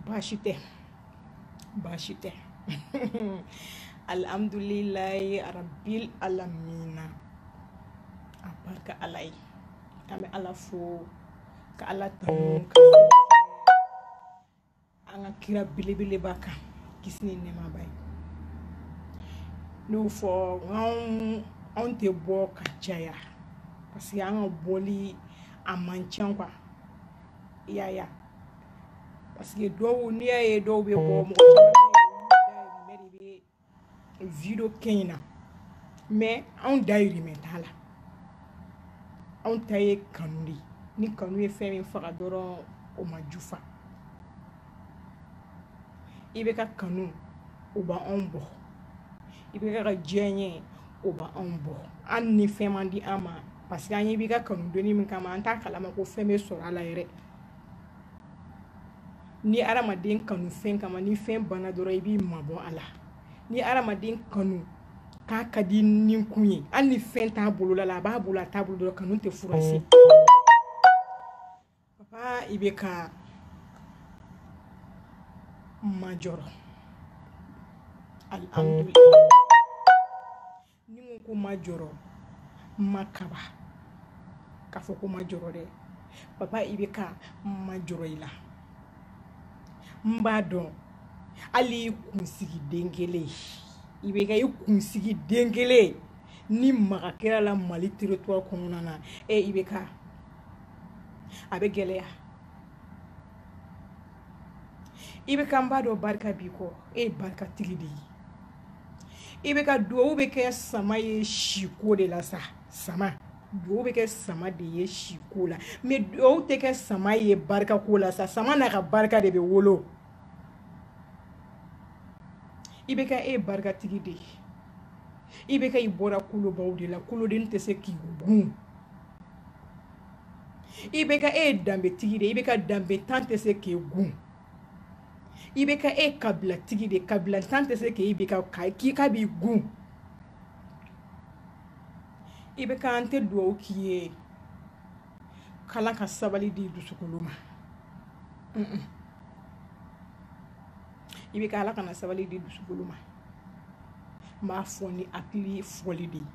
baasi tɛ baasi tɛ alhamdulilayi rabil alamina a barika ala ye an bɛ ala fo ka ala tanu ka an ka kira belebeleba kan kisi ni nɛɛma b'a ye n'o fɔ anw anw tɛ bɔ ka caya parce que an ka bɔli a man ca quoi i y'a ye parce que dɔw n'i y'a ye dɔw bɛ bɔ mɔgɔ caman bɛ yen de bɛ video kɛ in na mais anw dayirimɛ t'a la anw ta ye kanu de ye ni kanu ye fɛn min faga dɔrɔn o ma jufa IBK kanu o b'anw bɔ IBK diyanye o b'anw bɔ hali ni fɛn ma di an ma parce que an ye IBK kanu donni min kama an t'a kalama ko fɛn bɛ sɔrɔ a la yɛrɛ ni adamaden kanu fɛn kama ni fɛn banna dɔrɔn i b'i mabɔ a la ni adamaden kanu k'a ka di ni kun ye hali ni fɛn t'a bolola la a b'a bolo a t'a bolo dɔrɔn kanu tɛ furasi papa IBK n ma jɔrɔ alihamdulilayi ni n ko ko n ma jɔrɔ n ma kaba k'a fɔ ko n ma jɔrɔ dɛ papa IBK n ma jɔrɔ i la n b'a dɔn hali i kunsigi den kelen IBK i kunsigi den kelen ni maga kɛra a la mali territoire kɔnɔna na ɛ IBK a bɛ gɛlɛya IBK n b'a dɔn barika b'i kɔ e ye barikatigi de ye IBK duwawu bɛ kɛ sama ye siko de la sa sama duwawu bɛ kɛ sama de ye siko la mais duwawu tɛ kɛ sama ye barikako la sa sama n'a ka barika de bɛ wolo IBK e ye barikatigi de ye IBK i bɔra kolobaw de la koloden tɛ se k'i gun IBK e ye danbetigi de IBK danbentan tɛ se k'e gun IBK e kabilatigi de kabilantan tɛ se ka IBK k'i ka b'i gun IBK n tɛ dugawu k'i ye k'ala ka sabali di dusukolo ma IBK ala kana sabali di dusukolo ma n b'a fɔ ni hakili fɔli de ye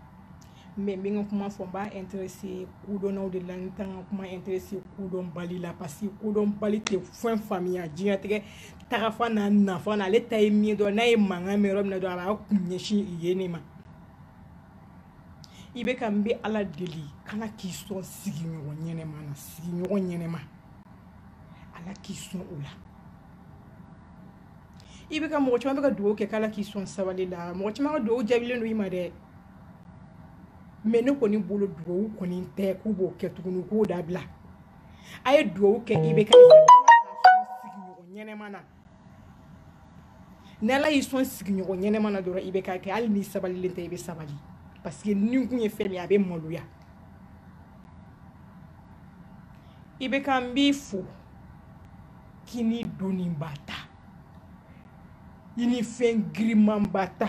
mɛ n bɛ n ka kuma fɔ n b'a interese kodɔnnaw de la n tɛ n ka kuma interese kodɔnbali la parce que kodɔnbali tɛ fɛn faamuya diɲɛtigɛ tagafan n'a nafan na ale ta ye min dɔn n'a ye mankan mɛn yɔrɔ min na dɔrɔn a b'a kun ɲɛsin yen ne ma IBK n bɛ ala deli k'ala k'i sɔn sigiɲɔgɔn ɲɛnɛma na sigiɲɔgɔn ɲɛnɛma ala k'i sɔn o la IBK mɔgɔ caman bɛ ka dugawu kɛ k'ala k'i sɔn sabali la mɔgɔ caman ka dugawu jaabilen don i ma dɛ mɛ ne kɔni bolo dugawu kɔni tɛ k'u b'o kɛ tuguni k'o dabila a ye dugawu kɛ i bɛ ɲɛnɛma na ni ala y'i sɔn sigiɲɔgɔn ɲɛnɛma na dɔrɔn IBK ɛ hali n'i sabalilen tɛ i bɛ sabali parce que ni kun ye fɛn min a bɛ maloya IBK n b'i fo k'i ni doniba ta i ni fɛn girimanba ta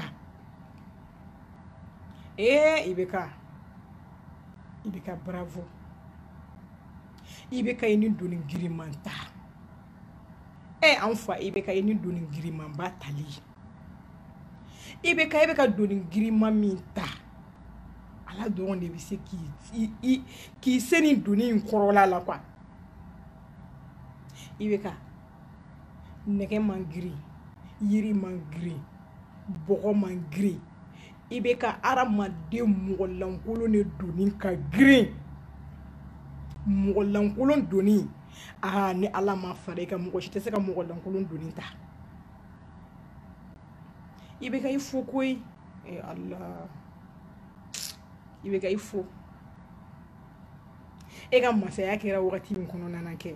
ee IBK IBK bravo IBK i ni doni giriman ta ɛ e, anw fa IBK i ni doni girimanba tali IBK i bɛ ka doni giriman min ta ala dɔrɔn de bɛ se k'i k'i se nin doni in kɔrɔla la quoi IBK nɛgɛ man girin yiri man girin bɔgɔ man girin IBK hadamaden mɔgɔlankolon de doni ka girin mɔgɔlankolon doni aa ni ala ma fara i kan mɔgɔ si tɛ se ka mɔgɔlankolon doni ta IBK i fo koyi ee ala IBK i fo e ka masaya kɛra wagati min kɔnɔna na kɛ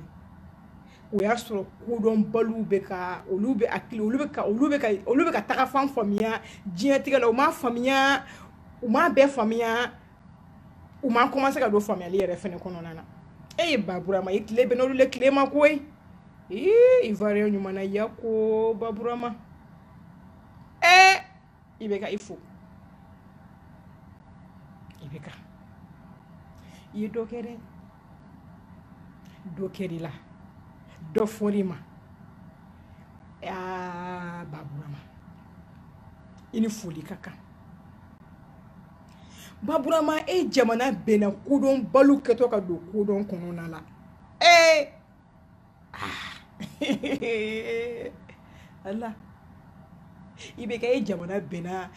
o y'a sɔrɔ kodɔnbaliw bɛ ka olu bɛ a olu bɛ ka olu bɛ ka olu bɛ ka tagafan faamuya diɲɛtigɛ la u ma faamuya u ma bɛɛ faamuya u ma kɔmanse ka don faamuyali yɛrɛ fana kɔnɔna na e ye baburama i tile bɛnn'olu le tile ma koyi ee ivoiriyɛn ɲuman na ya ko baburama ee IBK i fo IBK i ye dɔ kɛ dɛ dɔ kɛr'i la dɔ fɔr'i ma aa baburama i ni foli ka kan baburama e jamana bɛnna kodɔnbaliw kɛtɔ ka don kodɔn kɔnɔna la ee ala IBK e jamana bɛnna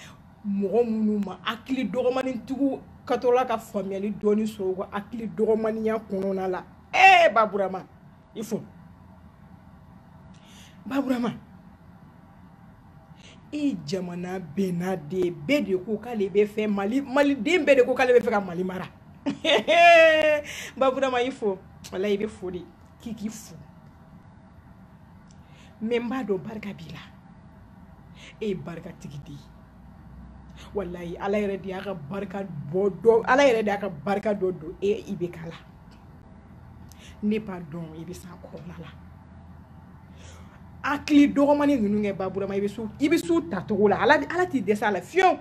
mɔgɔ minnu ma hakili dɔgɔmanintigiw kɛtɔla ka faamuyali dɔɔni sɔrɔ u ka hakili dɔgɔmaninya kɔnɔna la ee baburama i fo baburama e jamana bɛnna de bɛɛ de ko k'ale bɛ fɛ mali maliden bɛɛ de ko k'ale bɛ fɛ ka mali mara baburama i fo wala i bɛ fo de k'i k'i fo mɛ n b'a dɔn barika b'i la e ye barikatigi de ye walayi ala yɛrɛ de y'a ka barika bɔ dɔ ala yɛrɛ de y'a ka barika dɔ don e IBK la ne b'a dɔn i bɛ s'a kɔrɔla la hakili dɔgɔmani ninnu kɛ baburama i bɛ s'u i bɛ s'u tacogo la ala ala t'i dɛsɛ a la fiyewu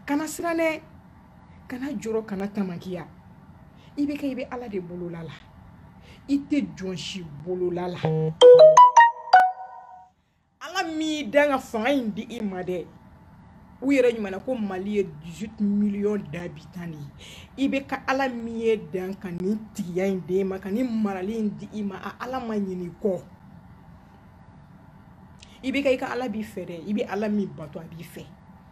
kana siran dɛ kana jɔrɔ kana tamakiya IBK i bɛ ala de bolola la i tɛ jɔn si bolola la ala min y'i dan ka fanga in di i ma dɛ u yɛrɛ ɲumanna ko mali ye 18 millions d'habitants de ye IBK ala min y'i dan ka nin tigiya in d'e ma ka nin marali in di i ma a ala ma ɲin'i kɔ IBK i ka ala b'i fɛ dɛ i bɛ ala min bato a b'i fɛ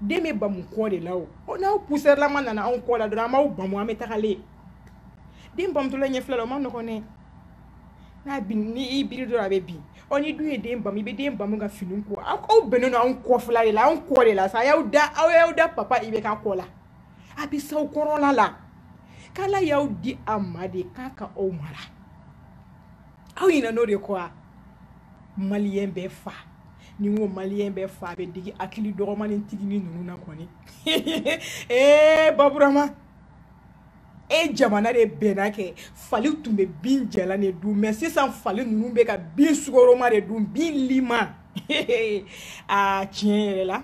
den bɛ bamu kɔ de la o n'aw pusɛrilama nana anw kɔ la dɔrɔn an b'aw bamu an bɛ tagalen den bamutɔla ɲɛfila la o ma nɔgɔn dɛ n'a bin ni i biri dɔrɔn a bɛ bin ɔ ni dun ye den bamu i bɛ den bamu ka fini ko aw aw bɛnnen don anw kɔfila de la anw kɔ de la sa y'aw da aw y'aw da papa IBK kɔ la a bɛ s'aw kɔrɔla la k'ala y'aw di a ma de k'a ka aw mara aw ɲinɛn'o de kɔ wa maliyɛn bɛɛ fa ni ko maliyɛn bɛɛ fa bɛ digi hakili dɔgɔmani tigini ninnu na kɔni ee baburama e jamana de bɛnna kɛ fali tun bɛ bin jalan de dun mɛ sisan fali ninnu bɛ ka bin sukaroma de dun bin lima aa tiɲɛ yɛrɛ la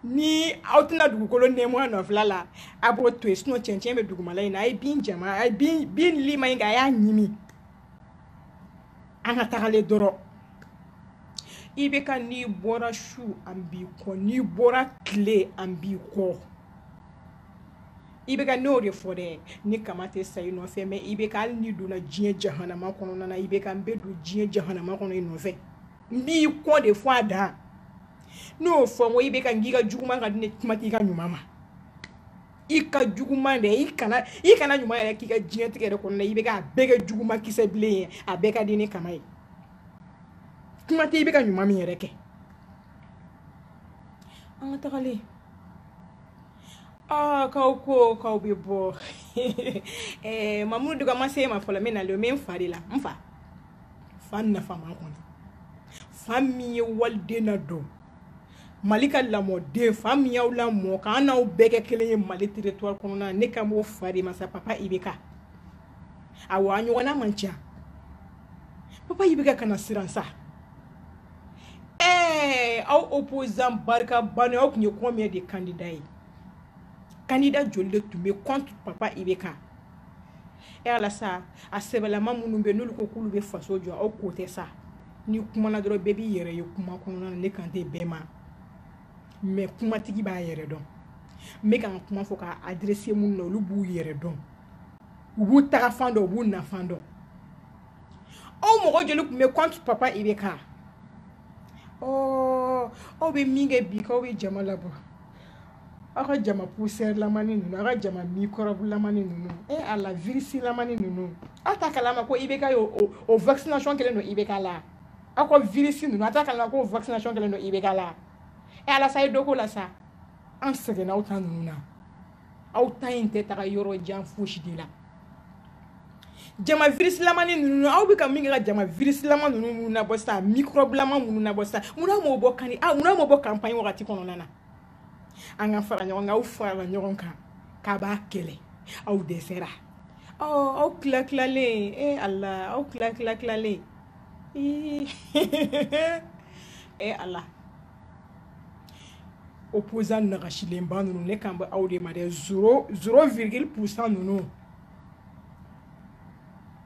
ni aw tɛna dugukolo nɛɛmu a nɔfila la a b'o to yen sinɔn cɛncɛn bɛ dugumala in na a ye bin jama a ye bin bin lima in kɛ a y'a ɲimi an ka tagalen dɔrɔn IBK n'i bɔra su an b'i kɔ n'i bɔra tile an b'i kɔ IBK n'o de fɔ dɛ ni kama tɛ sa i nɔfɛ mɛ IBK hali n'i donna diɲɛ jahanama kɔnɔna na IBK n bɛ don diɲɛ jahanama kɔnɔ i nɔfɛ n b'i kɔ de fo a dan n'o fɔ n ko IBK n k'i ka juguman ka di n ye kuma t'i ka ɲuman ma i ka juguman dɛ i kana i kana ɲuman yɛrɛ k'i ka diɲɛlatigɛ yɛrɛ kɔnɔna IBK a bɛɛ kɛ juguman kisɛ bilen ye a bɛɛ ka di ni kama ye kuma tɛ IBK ɲuman min yɛrɛ kɛ an ka tagalen aa k'aw ko k'aw bɛ bɔ ɛɛ mamu duga ma se ma fɔlɔ min na le min fa de la n fa fa nafaman kɔni fa min ye waliden nadon mali ka lamɔden fa min y'aw lamɔ k'an n'aw bɛɛ kɛ kelen ye mali territoire kɔnɔna ne kan b'o fa de ma sa papa IBK awɔ a ɲɔgɔnna man ca papa IBK kana siran sa ɛɛ aw opposant barika bani aw tun ye combien de candidat ye candidat joli de tun bɛ contre papa IBK e ala sa a sɛbɛlama minnu bɛ n'olu ko k'olu bɛ faso jɔ aw ko tɛ sa ni kuma na dɔrɔn bɛɛ b'i yɛrɛ ye kuma kɔnɔna na ne kan tɛ bɛɛ ma mɛ kumatigi b'a yɛrɛ dɔn n bɛ ka n kuma fɔ ka adrese minnu na olu b'u yɛrɛ dɔn u b'u tagafan dɔn u b'u nafan dɔn aw mɔgɔ joli tun bɛ contre papa IBK aw bɛ min kɛ bi k'aw bɛ jama labɔ aw ka jama pusɛrilamani ninnu aw ka jama mikɔrɔbulamani ninnu e ala virisilamani ninnu aw t'a kalama ko IBK o vaccination kɛlen don IBK la aw ka virisi ninnu aw t'a kalama ko vaccination kɛlen don IBK la e ala sa ye dɔ ko la sa an sɛgɛnna aw ta ninnu na aw ta in tɛ taga yɔrɔ jan fosi de la jama virisilamani ninnu aw bɛ ka min kɛ ka jama virisilama ninnu nabɔ sisan mikɔrɔbulama minnu nabɔ sisan mun na m'o bɔ kani a mun na m'o bɔ kanpaɲi wagati kɔnɔna na an ka fara ɲɔgɔn kan aw farala ɲɔgɔn kan k'a b'a kɛlɛ aw dɛsɛra ɔ aw tila tilalen e eh, ala aw tila tila tilalen ee eh, ala opposant nagasilenba ninnu ne kan bɛ aw de ma dɛ zéro zéro virgule pourcent ninnu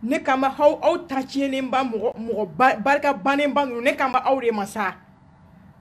ne kan bɛ aw aw ta tiɲɛnenba mɔgɔ mɔgɔ barika bannenba ninnu ne kan bɛ aw de ma sa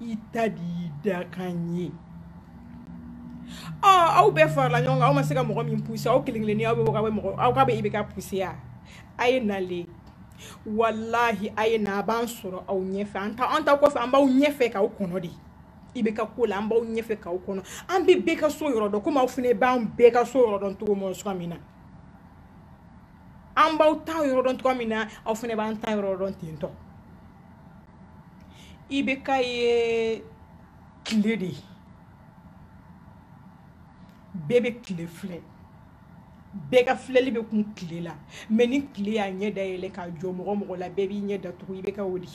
i ta de y'i dakan ye ɔ aw bɛɛ farala ɲɔgɔn kan aw ma se ka mɔgɔ min puse aw kelen kelenni aw bɛ aw bɛ mɔgɔ aw ka bɛ IBK puse ya a ye na le walahi a ye na a b'an sɔrɔ aw ɲɛfɛ an t'aw an t'aw kɔfɛ an b'aw ɲɛfɛ k'aw kɔnɔ de IBK ko la an b'aw ɲɛfɛ k'aw kɔnɔ an bɛ bɛɛ ka so yɔrɔ dɔn komi aw fana b'an bɛɛ ka so yɔrɔ dɔn cogo mɔn suka min na an b'aw ta yɔrɔ dɔn cogoya min na aw fana b'an ta yɔrɔ dɔn ten tɔ IBK ye tile de ye bɛɛ bɛ tile filɛ bɛɛ ka filɛli bɛ kun tile la mais ni tile y'a ɲɛ dayɛlɛ k'a jɔ mɔgɔ o mɔgɔ la bɛɛ b'i ɲɛ datugu IBK o de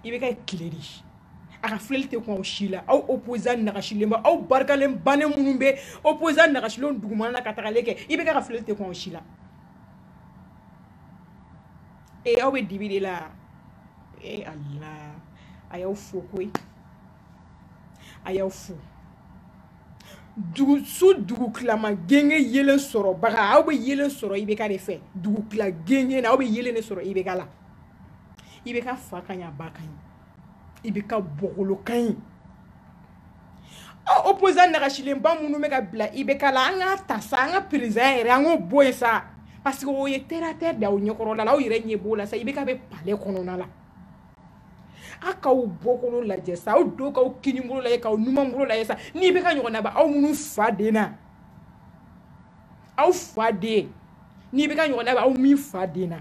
IBK ye tile de ye a ka filɛli tɛ kun aw si la aw opposant nagasilenba aw barika de bannen minnu bɛ opposant nagasilen dugumana na ka tagalen kɛ IBK ka filɛli tɛ kun aw si la ee aw bɛ dibi de la ee ala a y'aw fo koyi a y'aw fo dugu su dugutilama genge yeelen sɔrɔbaga aw bɛ yeelen sɔrɔ IBK de fɛ dugutila genge na aw bɛ yeelen de sɔrɔ IBK la IBK fa ka ɲi a ba ka ɲi IBK bɔkolo ka ɲi ɔ opposant nagasilenba minnu bɛ ka bila IBK la an k'a ta sa an ka président yɛrɛ an k'o bɔ yen sa parce que o ye terre à terre de aw ɲɛkɔrɔla la aw yɛrɛ ɲɛ b'o la sa IBK bɛ palais kɔnɔna la a k'aw bɔkolo lajɛ sa aw do k'aw kinibolo lajɛ k'aw numanbolo lajɛ sa n'IBK ɲɔgɔnna bɛ aw minnu fa den na aw fa den n'IBK ɲɔgɔnna bɛ aw min fa den na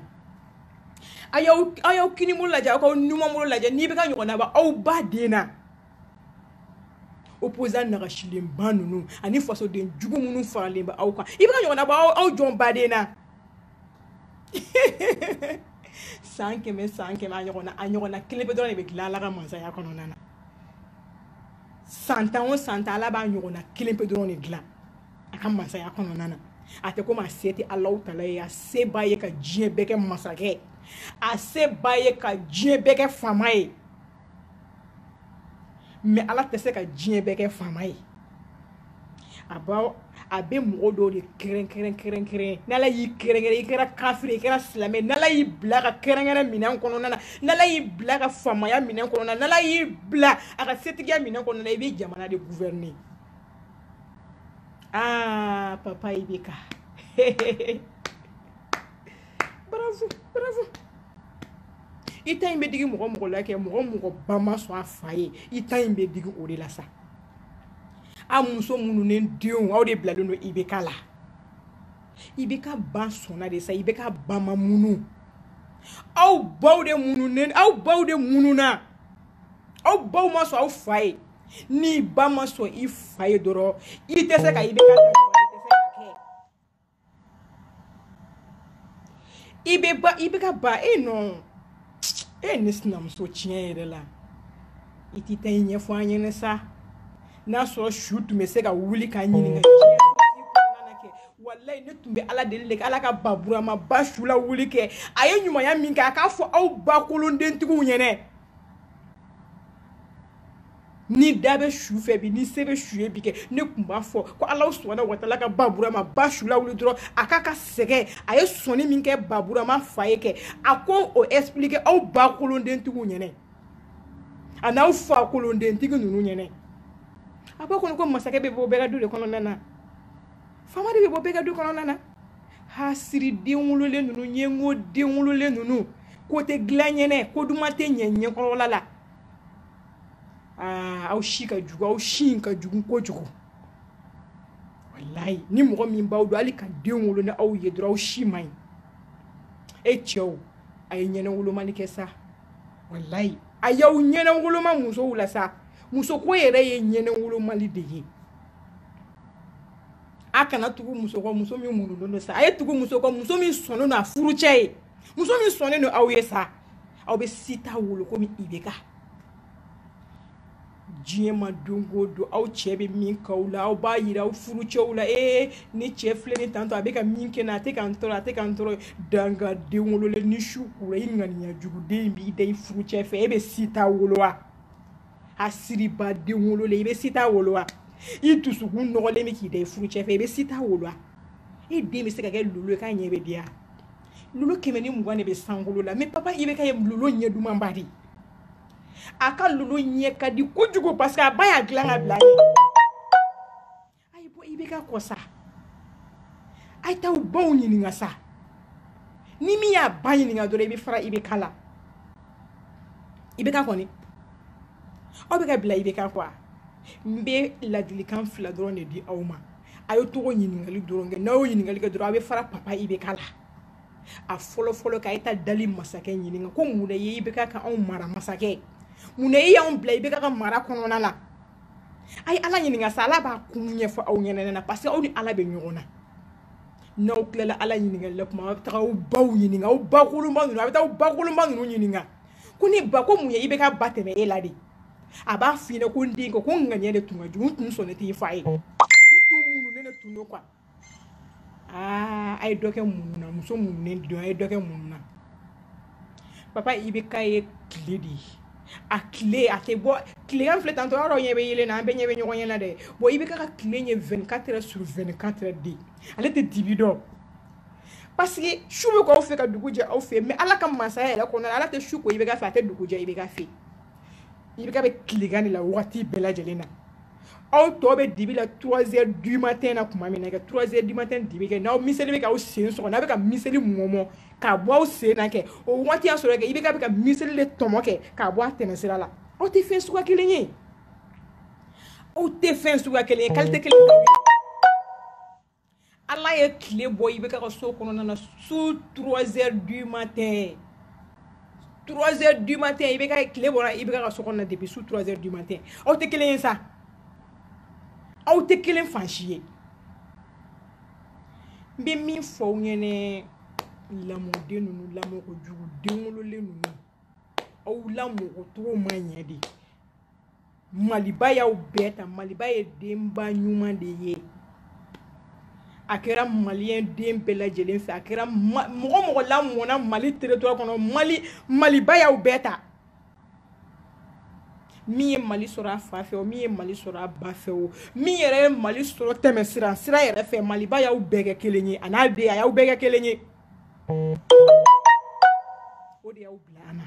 a y'aw a y'aw kinibolo lajɛ aw k'aw numanbolo lajɛ n'IBK ɲɔgɔnna bɛ aw ba den na opposant nagasilenba ninnu ani fasoden jugu minnu faralen bɛ aw kan IBK ɲɔgɔnna bɛ aw aw jɔn ba den na san kɛmɛ san kɛmɛ a ɲɔgɔnna a ɲɔgɔnna kelen pe dɔrɔn de bɛ dilan ala ka masaya kɔnɔna na san tan o san tan ala b'a ɲɔgɔnna kelen pe dɔrɔn de dilan a ka masaya kɔnɔna na a tɛ komi a se tɛ alahu taala ye a se b'a ye ka diɲɛ bɛɛ kɛ masakɛ a se b'a ye ka diɲɛ bɛɛ kɛ faama ye mais ala tɛ se ka diɲɛ bɛɛ kɛ faama ye a b'a a bɛ mɔgɔ dɔw de kɛrɛnkɛrɛn kɛrɛnkɛrɛn n'ala y'i kɛrɛnkɛrɛn i kɛra kafiri i kɛra silamɛ n'ala y'i bila ka kɛrɛnkɛrɛn minɛn kɔnɔna na n'ala y'i bila ka faamaya minɛn kɔnɔna na n'ala y'i bila a ka setigiya minɛn kɔnɔna na i bɛ jamana de gouverner Ah, papa IBK. bravo, bravo. i ta in bɛ digi mɔgɔ o mɔgɔ la kɛ mɔgɔ o mɔgɔ ba ma sɔn a fa ye i ta in bɛ digi o de la sa a muso mununen denw aw de bilalen don IBK la IBK ba sɔnna de sa IBK ba ma munu aw baw de mununen aw baw de mununa aw baw ma sɔn aw fa ye n'i ba ma sɔn i fa ye dɔrɔn i tɛ se ka IBK i bɛ ba IBK ba e nɔ e ne sinamuso tiɲɛ yɛrɛ la i t'i ta i ɲɛfɔ an ɲɛna sa n'a sɔrɔ su tun bɛ se ka wuli ka ɲininkali kɛ walayi ne tun bɛ ala deli de kɛ ala ka baburama ba su lawuli kɛ a ye ɲumanya min kɛ a k'a fɔ aw ba kolondentigiw ɲɛna ni da bɛ su fɛ bi ni se bɛ su ye bi kɛ ne tun b'a fɔ ko ala subahana watala ka baburama ba su lawuli dɔrɔn a k'a ka sɛgɛn a ye sɔnni min kɛ baburama fa ye kɛ a k'o expliquer aw ba kolondentigiw ɲɛnɛ an'aw fa kolondentigi ninnu ɲɛnɛ a b'a kɔnɔ ko masakɛ bɛ bɔ bɛɛ ka du de kɔnɔna na faama de bɛ bɔ bɛɛ ka du kɔnɔna na hasiri den wololen ninnu ɲɛngo den wololen ninnu ko tɛ dilan ɲɛnɛ ko duman tɛ ɲɛ ɲɛkɔrɔla la aa aw si ka jugu aw si in ka jugu kojugu walayi ni mɔgɔ min b'aw dɔn hali ka den wolo ni aw ye dɔrɔn aw si man ɲi e cɛw a ye ɲɛnawolomali kɛ sa walayi a y'aw ɲɛnawoloma musow la sa musoko yɛrɛ ye ɲɛnawolomali de ye a kana tugu muso kɔ muso min murutilen don sa a ye tugu muso kɔ muso min sɔnnen don a furucɛ ye muso min sɔnnen don aw ye sa aw bɛ star wolo komi IBK diɲɛ ma don o don aw cɛ bɛ min k'aw la aw b'a yira aw furu cɛw la ee ne cɛ filɛ ni tantɔ a bɛ ka min kɛ n na a tɛ ka n tɔɔrɔ a tɛ ka n tɔɔrɔ dangaden wololen ni su kura i ŋaniya juguden in b'i da i furu cɛ fɛ e bɛ star wolo wa hasiriden wololen i bɛ star wolo wa i dusukun nɔgɔlen bɛ k'i da i furu cɛ fɛ i bɛ star wolo wa e den bɛ se ka kɛ lolo ye k'a ɲɛ bɛ diya lolo kɛmɛ ni mugan de bɛ sankolo la mais papa IBK ye lolo ɲɛ dumanba de a ka lolo ɲɛ ka di kojugu parce que a ba y'a dilan ka bila a ye bɔ IBK kɔ sa a ye taa aw baw ɲininka sa ni min y'a ba ɲininka dɔrɔn i bɛ fara IBK la IBK kɔni aw bɛ ka bila IBK kɔ n bɛ ladilikan fila dɔrɔn de di aw ma a ye taga ɲininkali dɔrɔn kɛ n'aw ɲininkali kɛ dɔrɔn a bɛ fara papa IBK la a fɔlɔ fɔlɔ a ye taa dali masakɛ ɲininka ko mun de ye IBK kɛ anw mara masakɛ mun de y'anw bila IBK ka mara kɔnɔna la a ye ala ɲininka sa ala b'a kun ɲɛfɔ aw ɲɛnɛ na parce que aw ni ala bɛ ɲɔgɔn na n'aw tilala ala ɲininkali la kuma aw bɛ taga aw baw ɲininka aw bakolonba ninnu a bɛ taa aw bakolonba ninnu ɲininka ko n ba ko mun ye IBK ba tɛmɛ e la de a b'a f'i ɲɛna ko n den ko ko n ŋaniya de tun ka jugu n tun sɔn ne t'i fa ye n tun munu ne ne tun don quoi aa a ye dɔ kɛ munu na muso mununen don a ye dɔ kɛ munu na papa IBK ye tile de ye a tile a tɛ bɔ tilegan filɛ tantɔ yɔrɔ ɲɛ bɛ yeelen na an bɛɛ ɲɛ bɛ ɲɔgɔn ɲɛ na dɛ bon IBK ka tile ye 24 heures sur 24 heures de ale tɛ dibi dɔn parce que su bɛ k'aw fɛ ka dugu jɛ aw fɛ mais ala ka masaya yɛrɛ kɔnɔna na ala tɛ su ko IBK fɛ a tɛ dugu jɛ IBK fɛ IBK bɛ tilegan de la wagati bɛɛ lajɛlen na aw tɔ bɛ dibi la trois heures du matin na tuma min na kɛ trois heures du matin dibi kɛ n'aw miseli bɛ k'aw sen sɔgɔ n'aw bɛ ka miseli mɔmɔ k'a bɔ aw sen na kɛ o wagati y'a sɔrɔ kɛ IBK bɛ ka miseli de tɔmɔ kɛ k'a bɔ a tɛmɛsira la aw tɛ fɛn suguya kelen ye aw tɛ fɛn suguya kelen ye kalite kelen t'aw ye ala ye tile bɔ IBK ka so kɔnɔna na su 3 heures du matin 3 heures du matin IBK tile bɔra IBK ka so kɔnɔna depuis su 3 heures du matin aw tɛ kelen ye sa aw tɛ kelen fan si ye n bɛ min fɔ aw ɲɛna lamɔden ninnu lamɔko jugu den wololen ninnu aw lamɔko cogo ma ɲɛ dɛ maliba y'aw bɛɛ ta maliba ye denba ɲuman de ye a kɛra maliyɛn den bɛɛ lajɛlen fɛ a kɛra mɔgɔ mɔgɔ lamɔna mali territoire kɔnɔ mali maliba y'aw bɛɛ ta min ye mali sɔrɔ a fa fɛ o min ye mali sɔrɔ a ba fɛ o min yɛrɛ ye mali sɔrɔ tɛmɛsira sira yɛrɛ fɛ maliba y'aw bɛɛ kɛ kelen ye a n'a den a y'aw bɛɛ kɛ kelen ye o de y'aw bila an na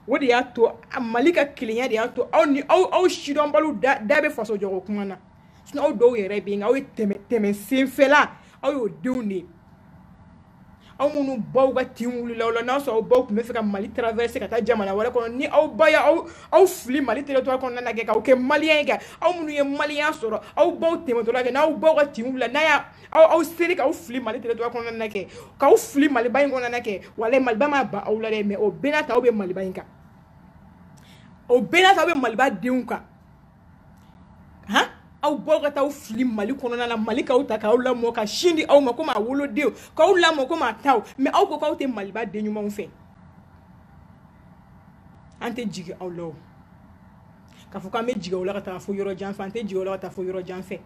o de y'a to mali ka kelenya de y'a to aw ni aw aw sidɔnbaliw da da bɛ faso jɔ ko kuma na sinɔn aw dɔw yɛrɛ bɛ yen aw ye tɛmɛ tɛmɛ senfɛla aw y'o denw de ye aw minnu baw ka tin wulila aw la n'a sɔrɔ aw baw tun bɛ fɛ ka mali traverse ka taa jamana wɛrɛ kɔnɔ ni aw ba y'aw aw fili mali territoire kɔnɔna na kɛ k'aw kɛ maliyɛn ye kɛ aw minnu ye maliyɛnya sɔrɔ aw baw tɛmɛtɔ la kɛ n'aw baw ka tin wulila n'a y'a aw aw seri k'aw fili mali territoire kɔnɔna kɛ k'aw fili maliba in kɔnɔna kɛ voilà maliba ma ban aw la dɛ mais o bɛɛ n'a ta aw bɛ maliba in kan o bɛɛ n'a ta aw bɛ maliba denw kan han aw baw ka taa aw fili mali kɔnɔna la mali k'aw ta k'aw lamɔ ka sin di aw ma komi a wolodenw k'aw lamɔ komi a taw mais aw ko k'aw tɛ maliba den ɲumanw fɛ an tɛ jigin aw la o k'a fɔ k'an bɛ jigin aw la ka taa fo yɔrɔ jan fɛ an tɛ jigin aw la ka taa fo yɔrɔ jan fɛ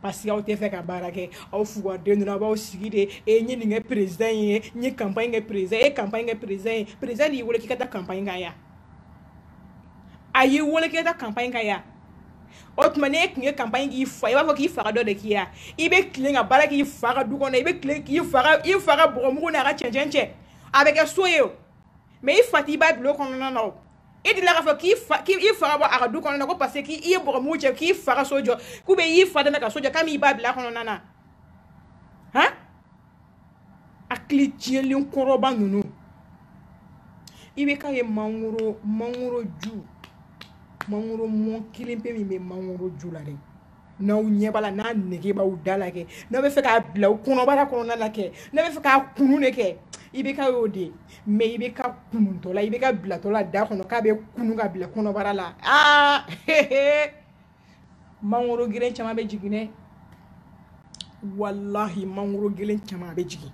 parce que aw tɛ fɛ ka baara kɛ aw fugaden donna aw b'aw sigi de e n ye nin kɛ perezidan ye n ye kanpaɲi kɛ perezidan ye e kanpaɲi kɛ perezidan ye perezidan de y'i wele k'i ka taa kanpaɲi k'a ye a y'i wele k'i ka taa kanpaɲi k'a ye o tuma ne tun ye kanpaɲi k'i fa i b'a fɔ k'i fa ka dɔ de k'i ye i bɛ tilen ka baara k'i fa ka du kɔnɔ i bɛ tilen k'i fa ka i fa ka bɔgɔmugu n'a ka cɛncɛn cɛ a bɛ kɛ so ye o mais i fa t'i ba bulon kɔnɔna na o i delila k'a fɔ k'i fa k'i fa ka bɔ a ka du kɔnɔna ko parce que k'i ye bɔgɔmugu cɛ k'i fa ka so jɔ k'u bɛ i fa dɛmɛ ka so jɔ k'a m'i ba bila kɔnɔna na han hakili tiɲɛlen kɔrɔba ninnu ibk ye mangoro mangoro ju mangoro mɔ kelen pe min bɛ mangoro ju la dɛ n'aw ɲɛ b'a la n'a nege b'aw da la kɛ n'a bɛ fɛ k'a bila aw kɔnɔbara kɔnɔna la kɛ n'a bɛ fɛ k'a kunun de kɛ ibk y'o de ye mɛ ibk kununtɔ la ibk bilatɔ la da kɔnɔ k'a bɛɛ kunun ka bila kɔnɔbara la aa mangoro geren caman bɛ jigin dɛ walahi mangoro geren caman bɛ jigin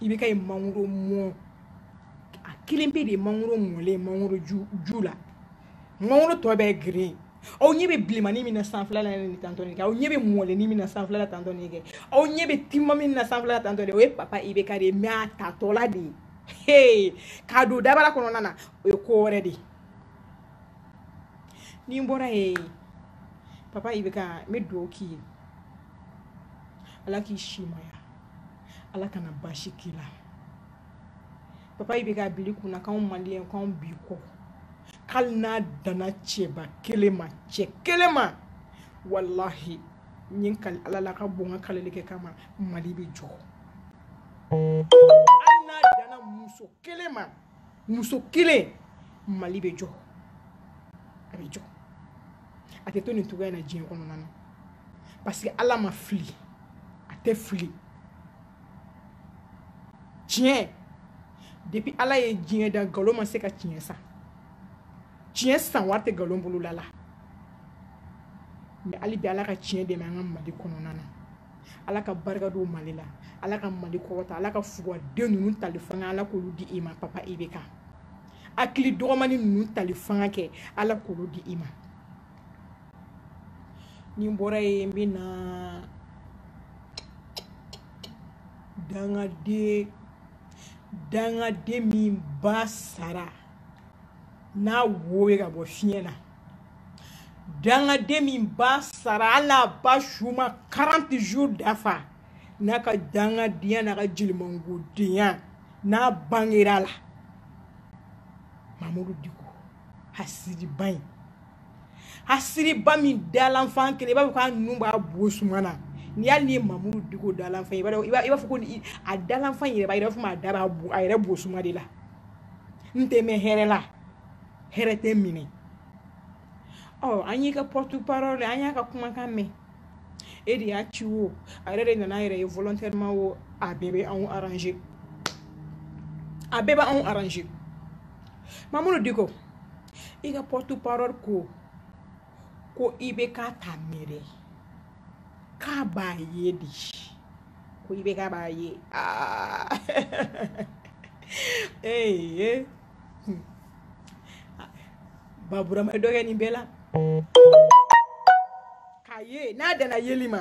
ibk ye mangoro mɔn a kelen pe de ye mangoro mɔlen mangoro ju ju la mangoro tɔ bɛɛ geren aw ɲɛ bɛ bilemani min na sanfɛla la nin tatɔ nin kɛ aw ɲɛ bɛ mɔlenni min na sanfɛla la tatɔ nin kɛ aw ɲɛ bɛ timiman min na sanfɛla la tatɔ de o ye papa ibk de ye mɛ a tatɔla de ye hey k'a don dabara kɔnɔna na o ye ko wɛrɛ de ye ni n bɔra yen papa ibk n bɛ dugawu k'i ye ala k'i simaya ala kana baasi k'i la papa ibk a bil'i kun na k'anw maliyɛn k'anw b'i kɔ hali n'a danna cɛba kelen ma cɛ kelen ma walahi n ye kali ala la ka bɔ n ka kalili kɛ kama mali bɛ jɔ hali n'a danna muso kelen ma muso kelen mali bɛ jɔ a bɛ jɔ a tɛ to nin cogoya in na diɲɛ kɔnɔna na parce que ala ma fili a tɛ fili tiɲɛ depuis ala ye diɲɛ da nkalon ma se ka tiɲɛ san tiɲɛ san wari tɛ nkalon bolola la mɛ hali bi ala ka tiɲɛ dɛmɛ an ka mali kɔnɔna na ala ka barika don mali la ala ka mali kɔrɔta ala ka fugaden ninnu tali fanga ala k'olu di i ma papa ibk hakili dɔgɔmani ninnu tali fanga kɛ ala k'olu di i ma ni n bɔra yen n bɛ na dangaden dangaden min ba sara n'a wo bɛ ka bɔ fiɲɛ na dangaden min ba sara hali a ba su ma 40 jours dafa n'a ka dangadenya n'a ka jelimangodenya n'a bangera a la mamudu diko hasiriba in hasiriba min dalanfan kelen i b'a fɔ k'a nun b'a bo suma na ni hali ni ye mamudu diko dalanfan i b'a fɔ ko a dalanfan yɛrɛ b'a yɛrɛ fɔ a da b'a a yɛrɛ bo suma de la n tɛ mɛn hɛrɛ la hɛrɛ tɛ minɛ ɔ an y'i ka porte parole an y'a ka kumakan mɛn e de y'a ci o a yɛrɛ de nana a yɛrɛ ye volontairement o a bɛɛ bɛ anw arranger a bɛɛ bɛ anw arranger mamudu diko i ka porte parole ko ko IBK t'a mɛn dɛ k'a b'a ye de ko IBK b'a ye aa ee baburama dɔ kɛ nin bɛɛ la k'a ye n'a danna yeli ma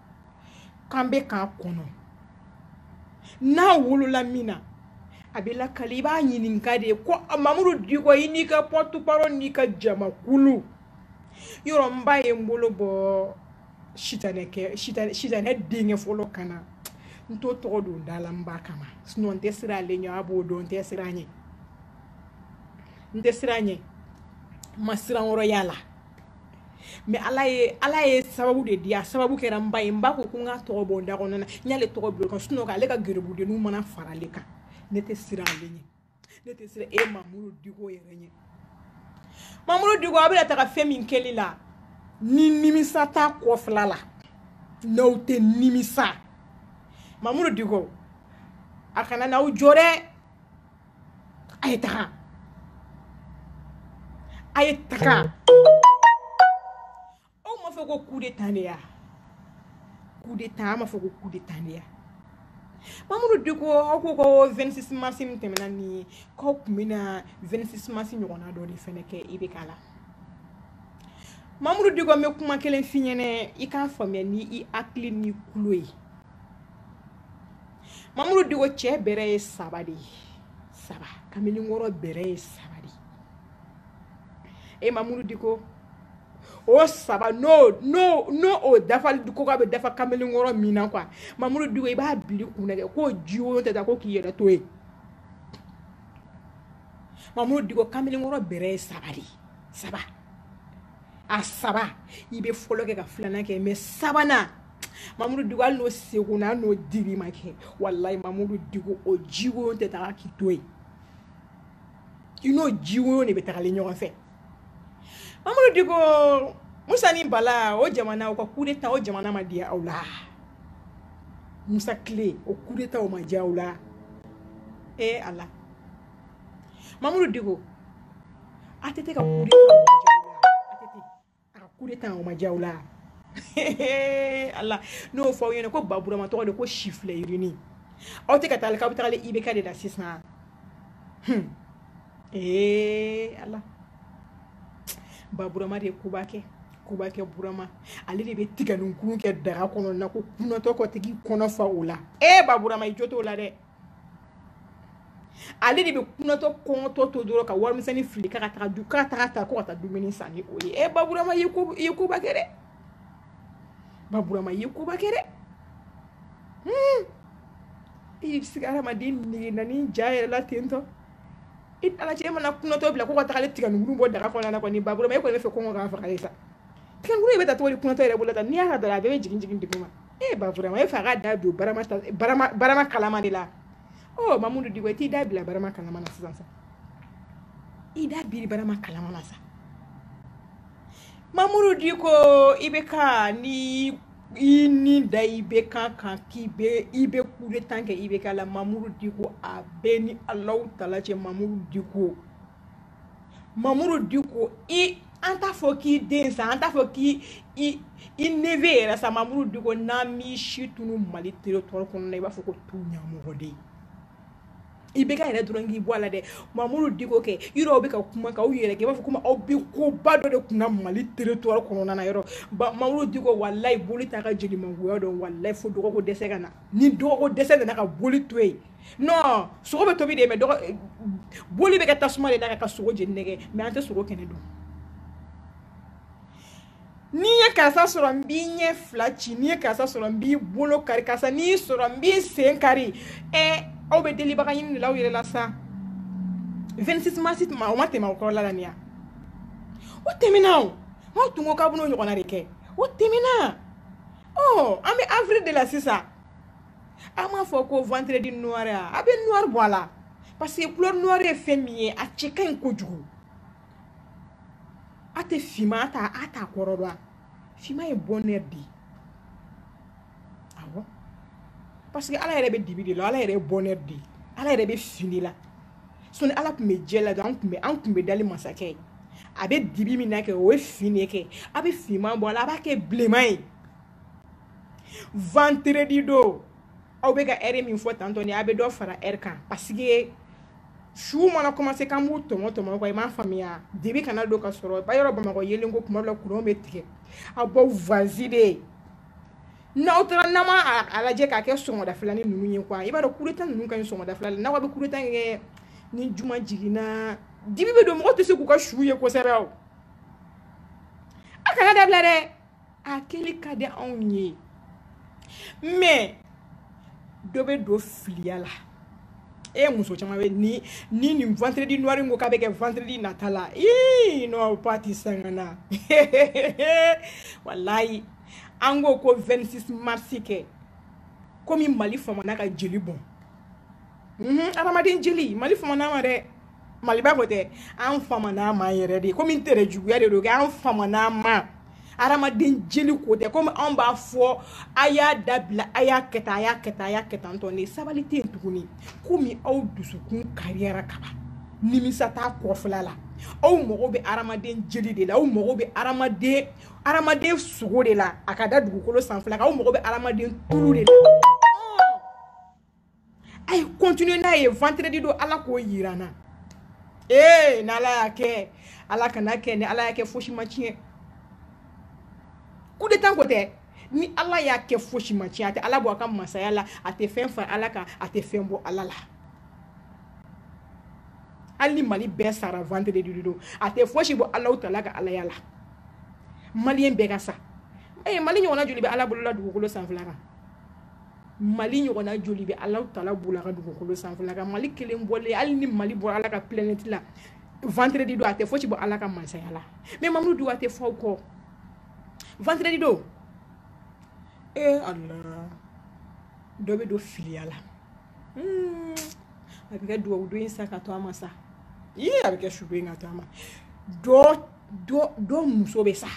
k'an bɛ k'a kɔnɔ n'a wolola min na a bɛ lakali i b'a ɲininka de ko mamudu diko i n'i ka porte parole n'i ka jamakulu yɔrɔ n ba ye n bolo bɔ sitanɛ denkɛ fɔlɔ kan na n t'o tɔgɔ don n da la n ba kama sinɔn n tɛ siran ale ɲɛ a b'o dɔn n tɛ siran a ɲɛ n tɛ siran a ɲɛ n ma siranyɔrɔ y'a la mɛ ala ye ala ye sababu de di a sababu kɛra n ba ye n ba ko ko n k'a tɔgɔ bɔ n da kɔnɔna n y'ale tɔgɔ bila o kan sinɔn ale ka garibudenninw mana fara ale kan ne tɛ siran ale ɲɛ ne tɛ siran e mamuru diko yɛrɛ ɲɛ mamuru diko a bɛna taga fɛn min kɛli la ni nimisa t'a kɔfila la n'aw tɛ nimisa mamuru diko a kana n'aw jɔ dɛ a ye taga a ye taga aw m'a fɔ ko coup d'état de y'a coup d'état aw m'a fɔ ko coup d'état de y'a mamudu diko aw ko ko 26 mars min tɛmɛna nin ye k'aw tun bɛna 26 mars ɲɔgɔnna dɔ de fɛnɛ kɛ IBK la mamudu diko n bɛ kuma kelen f'i ɲɛnɛ i k'a faamuya ni i hakili n'i kulo ye mamuru diko cɛ bɛrɛ ye saba de ye saba kamalenkɔrɔ bɛrɛ ye saba de ye e mamuru diko o saba n'o n'o n'o o dafali ko k'a bɛ dafa kamalenkɔrɔ min na quoi mamuru diko i b'a bili kun na kɛ k'o jiko o tɛ taa ko k'i yɛrɛ to yen mamuru diko kamalenkɔrɔ bɛrɛ ye saba de ye saba. a saba i bɛ fɔlɔ kɛ ka filanan kɛ mɛ sabanan mamudu diko hali n'o seko na n'o dili ma kɛ walayi mamudu diko o jiko tɛ taga k'i to yen i n'o jiko de bɛ tagalen ɲɔgɔn fɛ mamudu diko musa ni bala o jamana o ka kudeta o jamana ma diya aw la musa tile o kudeta o ma diya aw la ee ala mamudu diko ATT ka kude a ka kudeta o ma diya aw la ala n'o fɔ aw ɲɛna ko baburama tɔgɔ de ko sifilɛ yirinin aw tɛ ka taa k'aw bɛ taga IBK de la sisan ee ala baburama de ye koba kɛ koba kɛ burama ale de bɛ tiganinkuru kɛ daga kɔnɔna ko kunatɔ kɔtigi i kɔnɔ fa o la ee baburama i jo t'o la dɛ ale de bɛ kunatɔ kɔngɔtɔ to dɔrɔn ka warimisɛnnin fili k'a ka taga du k'a taga ta ko ka taa dumuni san ni o ye ɛ baburama i ye ko i ye koba kɛ dɛ baburama i ye koba kɛ dɛ hmm. i bɛ se ka hadamaden nege na ni ja yɛrɛ la ten to i n'ala cɛ e mana kunatɔ bila ko ka taga ale tigɛninkuru bɔ daga kɔnɔna na kɔni baburama e kɔni b'a fɛ kɔngɔ k'a faga de sa tigɛninkuru o bɛ ta cogo di kunatɔ yɛrɛ bolo la tan n'i y'a ka dara a bɛɛ bɛ jigin jigin duguma e ba vraiment e fa ka da don barama barama barama kalama de la ɔ mamudu diko i t'i da biri barama kalama na sisan sa i da biri barama kalama na sa mamudu diko i bɛ ka nin ni nin da ibk kan k'i bɛ i bɛ coup d'état kɛ ibk la mamudu diko a b'e ni alahu taala cɛ mamudu diko mamudu diko an t'a fɔ k'i den sa an t'a fɔ k'i i i neveu yɛrɛ sa mamudu diko n'an m'i si tunu mali territoire kɔnɔ na i b'a fɔ ko tu ɲamɔgɔden ye ibk yɛrɛ dɔrɔn k'i bɔ a la dɛ mamudu diko kɛ yɔrɔ aw bɛ ka kuma ka aw yɛrɛ kɛ i b'a fɔ komi aw bɛ koba dɔ de kunna mali territoire kɔnɔna na yɔrɔ ba mamudu diko walayi boli t'a ka jelimangoya dɔn walayi fo dɔgɔko dɛsɛ ka na ni dɔgɔko dɛsɛ nana ka boli to yen non sogo bɛ tobi de mais dɔgɔ boli bɛ kɛ tasuma de da ka sogo jeni nɛgɛ mais an tɛ sogo kɛnɛ dun n'i ye karisa sɔrɔ n b'i ɲɛ fila ci n'i ye karisa sɔrɔ n b'i bolo kari karisa n'i sɔrɔ n b'i sen kari ɛ aw bɛ delibaga ɲini de la aw yɛrɛ la sa 26 mars tuma o ma tɛmɛ o kɔrɔla la nin ya o tɛmɛna o aw tun ko k'a bɛn'o ɲɔgɔnna de kɛ o tɛmɛna ɔ an bɛ avril de la sisan a m'a fɔ ko vendredi noir a a bɛ noir bɔ a la parce que couleur noir ye fɛn min ye a cɛ ka ɲi kojugu a tɛ finman ta a t'a kɔrɔ dɔn finman ye bonheur de ye awɔ parce que ala yɛrɛ bɛ dibi de la ala yɛrɛ ye bonheur de ye ala yɛrɛ bɛ fin na sɔni ala tun bɛ jɛ la dɔrɔn an tun bɛ an tun bɛ dali masakɛ ye a bɛ dibi min na kɛ o ye fin ye kɛ a bɛ finman bɔ a la a b'a kɛ bilenman ye vendredi don aw bɛ ka ɛri min fɔ tantôt ni a bɛ dɔ fara ɛri kan pasike su mana commencé k'an b'u tɔmɔ tɔmɔ kɔ i m'a faamuya dibi kana don ka sɔrɔ ba yɔrɔ bamakɔ yeelen ko tuma dɔ la kuran bɛ tigɛ aw baw vazi de ye n'aw taara n'an ma a lajɛ k'a kɛ sɔgɔmadafɛlanin ninnu ye quoi i b'a dɔn coup d'état ninnu ka ɲi sɔgɔmadafɛlanin n'aw bɛ coup d'état kɛ ni juma jiginna dibi bɛ don mɔgɔ tɛ se k'u ka su ye kosɛbɛ o a kan'a dabila dɛ a kɛli ka di anw ye mɛ dɔ bɛ don filiya la e muso caman bɛ ni ni nin vendredi noir ko k'a bɛ kɛ vendredi nata la ii non patisakana walayi an ko ko 26 mars kɛ komi mali famana ka jeli bɔn Mhm, adamaden jeli mali famana ma dɛ maliba ko tɛ an famana ma yɛrɛ de komi n tere juguya de don kɛ an famana ma adamaden jeli ko tɛ komi anw b'a fɔ a y'a dabila a y'a kɛ tan a y'a kɛ tan a y'a kɛ tan tɔ ne sabali tɛ yen tuguni komi aw dusukun kariyara kaban nimisa t'a kɔfɛla la aw mago bɛ adamaden jeli de la aw mago bɛ adamaden adamaden sogo de la a ka da dugukolo sanfɛla kan aw mago bɛ adamaden tulu de la a ye continuer n'a ye vendredi don ala k'o yira n na ee n'ala y'a kɛ ala kan'a kɛ ni ala y'a kɛ fosi ma tiɲɛ coup d'état ko tɛ ni ala y'a kɛ fosi ma tiɲɛ a tɛ ala bɔ a ka masaya la a tɛ fɛn fara ala kan a tɛ fɛn bɔ ala la hali ni mali bɛɛ sara vendredi don a tɛ fosi bɔ alawutaala ka alaya la maliyɛn bɛɛ ka sa ee mali ɲɔgɔnna joli bɛ ala bolola dugukolo sanfɛla kan mali ɲɔgɔnna joli bɛ alawutaala bolola ka dugukolo sanfɛla kan mali kelen bɔlen hali ni mali bɔra ala ka planɛti la vendredi don a tɛ fosi bɔ ala ka masaya la mɛ mamudu duwa tɛ fɔ aw kɔ vendredi don e eh, ala dɔ bɛ don filiya la hmm, a bɛ kɛ duwawu don in sa ka to a ma sa ii a bɛ kɛ su don in ka to a ma dɔ dɔ dɔ muso bɛ sa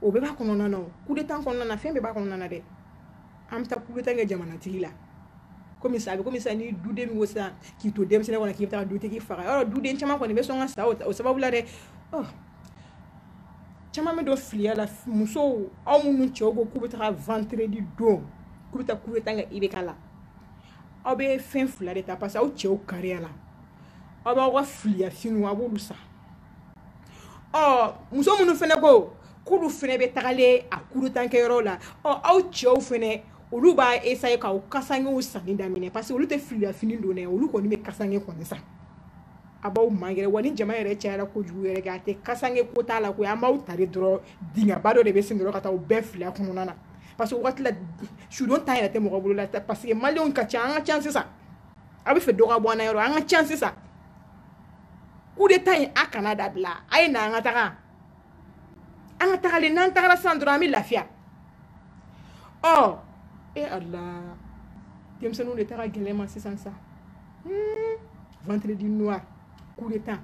o bɛɛ b'a kɔnɔna na kudetan kɔnɔna na fɛn bɛɛ b'a kɔnɔna na dɛ an bɛ taa kudetan kɛ jamanatigi la komi sa a bɛ komi sa ni duden min ko sisan k'i to denmisɛnnin kɔnɔ k'i bɛ taa dutigi fagayɔrɔ duden caman kɔni bɛ sɔn ka sa o sababu la dɛ oh. caman bɛ don filiya la musow aw minnu cɛw ko k'u bɛ taga vendredi don k'u bɛ taa kudetan kɛ IBK la aw bɛ fɛn fila de ta parce que aw cɛw kariya la aw b'aw ka filiyafiniw a b'olu san ɔ muso minnu fana ko k'olu fana bɛ tagalen a kudetankɛyɔrɔ la ɔ aw cɛw fana olu b'a essayer k'aw kasangew sanni daminɛ parce que olu tɛ filiyafini don dɛ olu kɔni bɛ kasange kɔni san a b'aw mangɛrɛ wa ni jama yɛrɛ cayara kojugu yɛrɛ kɛ a tɛ kasange ko t'a la ko an b'aw ta de dɔrɔn dingɛba dɔ de bɛ sen dɔrɔn ka taa u bɛɛ fili a kɔnɔna na parce que wagati la sudon temps yɛrɛ tɛ mɔgɔ bolo la parce que maliyɛnw ka ca an ka ca sisan a bɛ fɛ dɔ ka bɔ an na yɔrɔ an ka ca sisan coup d'état in a kana dabila a ye na an ka taga an ka tagalen n'an tagara sisan dɔrɔn an bɛ lafiya ɔ oh, e eh, ala denmisɛnninw de ta ka gɛlɛnman sisan sa hmm, vendredi noir coup d'état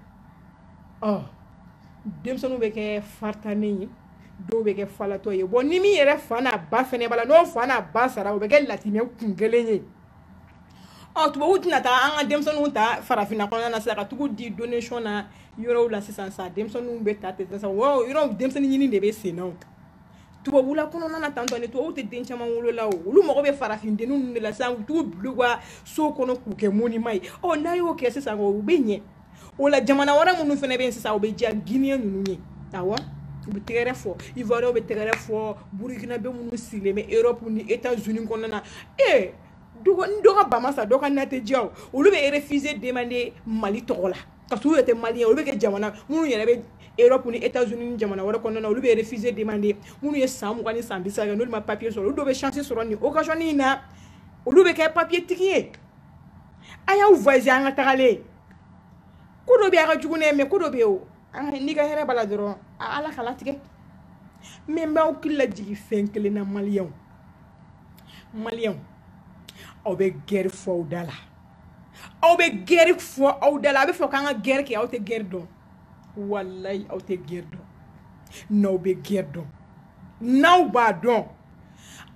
ɔ oh, denmisɛnninw bɛ kɛ faritanin ye dɔw bɛ kɛ falatɔ ye bɔn ni min yɛrɛ fa n'a ba fɛnɛ b'a la n'o fa n'a ba sara o bɛ kɛ latimɛ kun kelen ye ɔ tubabu tɛna taga an ka denmisɛnninw ta farafinna kɔnɔna na sisan ka tag'u di donation na yɔrɔw la sisan sa denmisɛnninw bɛ ta ten sisan yɔrɔ o yɔrɔ denmisɛnnin ɲini de bɛ sen na o tubabula kɔnɔna na étant donné tubabu tɛ den caman wolo la o olu mago bɛ farafin denninw ninnu de la sisan u bɛ tag'u bila u ka so kɔnɔ k'u kɛ monima ye ɔ n'a y'o kɛ sisan o u bɛ ɲɛ o la jamana wɛrɛ minnu fɛnɛ bɛ yen sisan o bɛ diya guiniyɛn ninnu ye awɔ u bɛ tɛgɛrɛ fɔ ivoiriyɛnw bɛ tɛgɛrɛ fɔ burukinabe minnu sigilen bɛ europe ni etats unis kɔnɔna na ee dɔ ko ni dɔ ka ba ma sa dɔ ka na tɛ diya o olu bɛ refuge demander mali tɔgɔ la ka sɔrɔ u yɛrɛ tɛ maliyɛn olu bɛ kɛ jamana minnu yɛrɛ bɛ europe ni etats unis ni jamana wɛrɛ kɔnɔna na olu bɛ refuge demander minnu ye san mugan ni san bi saba kɛ n'olu ma papier sɔrɔ olu dɔw bɛ chance sɔrɔ nin occasion in na olu bɛ kɛ papier tigi ye a y'aw voyage an ka tagalen ko dɔ bɛ a ka jugu ne mɛ ko dɔ bɛ yen o n'i ka hɛrɛ b'a la dɔrɔn ala k'a latigɛ mais n b'aw hakili lajigin fɛn kelen na maliyɛnw maliyɛnw aw bɛ gɛri fɔ aw da la aw bɛ gɛri fɔ aw da la a bɛ fɔ k'an ka gɛri kɛ aw tɛ gɛri dɔn walayi aw tɛ gɛri dɔn n'aw bɛ gɛri dɔn n'aw b'a dɔn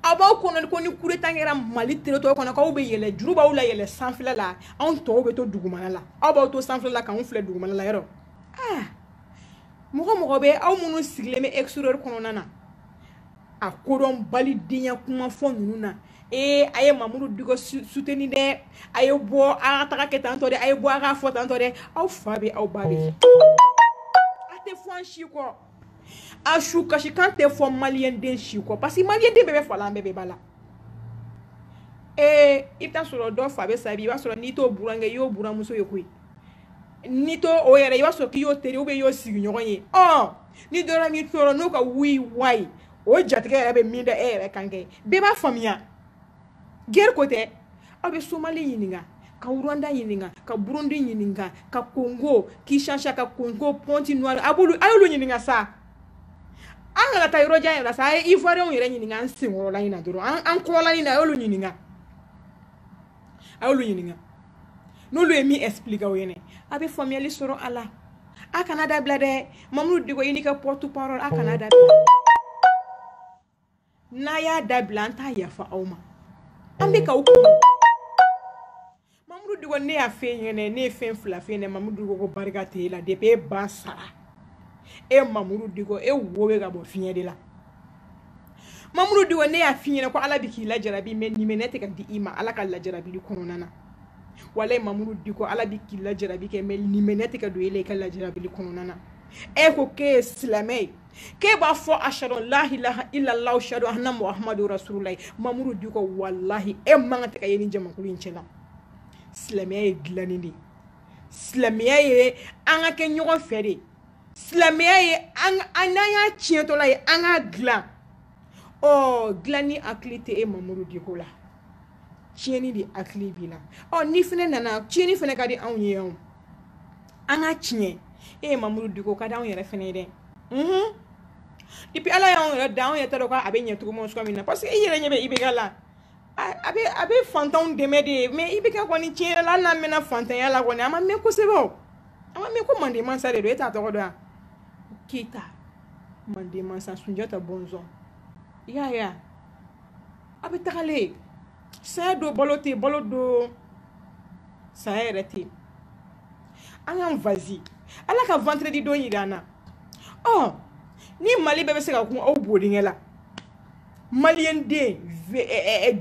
a b'aw kɔnɔ ko ni coup d'état kɛra mali territoire kɔnɔ k'aw bɛ yɛlɛ juru b'aw layɛlɛ sanfɛla la anw tɔw bɛ to dugumana la aw b'aw to sanfɛla la k'anw filɛ dugumana la yɔrɔ ah mɔgɔ o mɔgɔ bɛ aw minnu sigilen bɛ exterieur kɔnɔna na a kodɔnbali denya kuma fɔ ninnu na ee a ye mamudu diko soutenir dɛ a ye bɔ an ka taga kɛ tantɔ dɛ a ye bɔ an ka fɔ tantɔ dɛ aw fa bɛ aw ba bɛ a tɛ fɔ an si kɔ a su kasikan tɛ fɔ maliyɛnden si kɔ parce que maliyɛnden bɛɛ bɛ fa la an bɛɛ bɛ ba la ee i bɛ t'a sɔrɔ dɔ fa bɛ sa bi i b'a sɔrɔ n'i t'o burankɛ i y'o buranmuso ye koyi n'i t'o o yɛrɛ i b'a sɔrɔ k'i y'o teri ou bien i y'o sigiɲɔgɔn ye ɔ ni dɔ la min tɔɔrɔ n'o ka wui wayi o jatigɛ yɛrɛ bɛ min da e yɛrɛ kan kɛ bɛɛ b'a faamuya gɛri ko tɛ aw bɛ somali ɲininka ka rwanda ɲininka ka burundi ɲininka ka kongo kinshasa ka kongo pɔnti noir a b'olu a y'olu ɲininka sa an kana taa yɔrɔ jan yɛrɛ la sa a ye ivoirienw yɛrɛ ɲininka an senkɔrɔla in na dɔrɔn an kɔrɔla in na a y'olu ɲininka a y'olu ɲininka n'olu ye min explique aw ɲɛna a bɛ faamuyali sɔrɔ a la a kana dabila dɛ mamudu diko i n'i ka porte parole a kana dabila n'a y'a dabila an t'a yafa aw ma an bɛ ka aw kɔnɔ mamudu diko ne y'a f'e ɲɛna ne ye fɛn fila f'e ɲɛna mamudu diko ko barika tɛ e la depuis e ba sara e mamudu diko e wo bɛ ka bɔ fiɲɛ de la mamudu diko ne y'a f'i ɲɛna ko ala bɛ k'i lajarabi mais limaniya tɛ ka di i ma ala ka lajarabili kɔnɔna na walayi mamudu diko ala bɛ k'i lajarabi kɛ mais limaniya tɛ ka don e la i ka lajarabili kɔnɔna na e ko k'e ye silamɛ ye k'e b'a fɔ ashadu lahilaha ilala ashadu anna muhamadu rasululayi mamudu diko walahi e man kan tɛ ka ye nin jamakulu in cɛ la silamɛya ye dilanni de ye silamɛya ye an ka kɛ ɲɔgɔn fɛ de silamɛya ye an n'an y'a tiɲɛtɔla ye an k'a dilan ɔ dilanni hakili tɛ e mamuru diko la tiɲɛni de hakili b'i la ɔ ni fana nana tiɲɛni fana ka di anw ye yan an ka tiɲɛ e ye mamuru diko ka di anw yɛrɛ fana ye dɛ depuis ala y'anw yɛrɛ da anw yɛrɛ t'a dɔn k'a bɛ ɲɛ cogo ma cogoya min na parce que i yɛrɛ ɲɛ bɛ IBK la a bɛ a bɛ fantanw dɛmɛ de ye mais IBK kɔni tiɲɛ yɛrɛ la hali n'a mɛnna fantanya la kɔni a ma mɛn kosɛbɛ o an b'a mɛn ko manden mansa den don e t'a tɔgɔ dɔn yan keyita manden mansa sunjata bɔnsɔn i y'a ye a bɛ tagalen saya don balo tɛ balo don saya yɛrɛ tɛ an k'an vazi ala ka vendredi don yira an na ɔ ni mali bɛɛ bɛ se ka kun aw bo dingɛ la maliden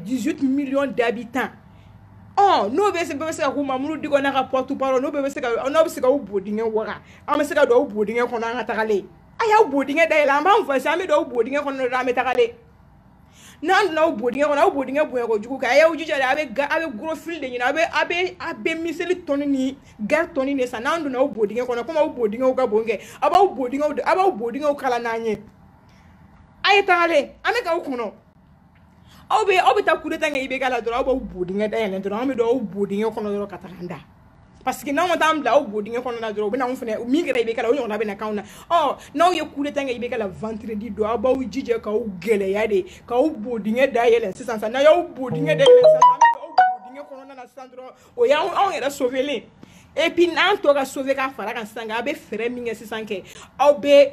douze millions d'habitants n'o bɛ se bɛ se ka kun mamudu diko n'a ka pɔtu n'u bɛ se n' bɛ se ka bo dingɛ wa an bɛ se ka don aw bo dingɛ kɔnɔ an ka tagalen a y'aw bo dingɛ da la an b'an fɔ an bɛ don aw bo dingɛ kɔnɔ an bɛ tagalen n'an n'aw bo dingɛ kɔnɔ aw bo dingɛ bonyalen kojugu kan a y'aw jija a bɛ a bɛ gros fil de ɲini a a a bɛ miseli tɔni gaari tɔni de san n'an donna aw bo dingɛ kɔnɔ aw bo dingɛ ka bon kɛ aw b'aw bo aw b'aw bo dingɛ kala n'an ye a ye tagalen an bɛ k'aw kɔnɔ aw bɛ aw bɛ taa kudeta kɛ IBK la dɔrɔn aw b'aw bo dingɛ da yɛlɛ dɔrɔn an bɛ don aw bo dingɛ kɔnɔ dɔrɔn ka taga an da parce que n'anw ma taa an bila aw bo dingɛ kɔnɔ na dɔrɔn u bɛ na anw fana min kɛra IBK la o ɲɔgɔnna bɛ na k'anw na ɔ n'aw ye kudeta kɛ IBK la vendredi don aw b'aw jija k'aw gɛlɛya de k'aw bo dingɛ da yɛlɛ sisan sisan n'a y'aw bo dingɛ da yɛlɛ sisan an bɛ don aw bo dingɛ kɔnɔna na sisan dɔrɔn o y'anw anw yɛrɛ sauvelen et puis n'an tɔ ka sauver ka fara kan sisan a bɛ fɛɛrɛ min kɛ sisan kɛ aw bɛ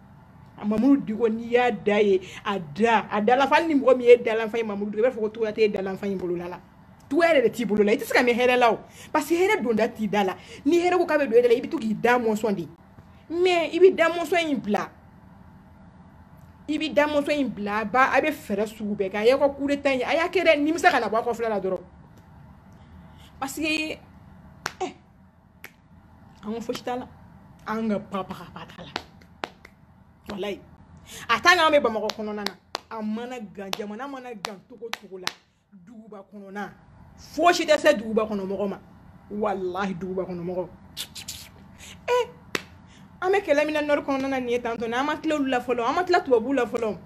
a mamudu diko n'i y'a da ye a da a dalafa ni mɔgɔ min ye dalanfa ye mamudu i b'a fɔ ko tiɲɛ tɛ dalanfa in bolola la tiɲɛ yɛrɛ de t'i bolo la i tɛ se ka mɛn hɛrɛ la o parce que hɛrɛ donda t'i da la ni hɛrɛ ko k'a bɛ don e da la i bɛ to k'i da mɔsɔn de mais i bɛ da mɔsɔn in bila i bɛ da mɔsɔn in bila ba a bɛ fɛɛrɛ sugu bɛɛ kɛ a y'aw ka coup d'état in a y'a kɛ dɛ nimisa kana bɔ a kɔfɛla la dɔrɔn parce que an ko fosi t'a la an ka bagabaga t'a la walayi a tan k'an bɛ bamakɔ kɔnɔna na a mana gan jamana mana gan cogo cogo la duguba kɔnɔna fosi tɛ se duguba kɔnɔ mɔgɔ ma walahi duguba kɔnɔ mɔgɔ e an bɛ kɛlɛ min na nord kɔnɔna na nin ye tantɔ na an ma tila olu la fɔlɔ an ma tila tubabuw la fɔlɔ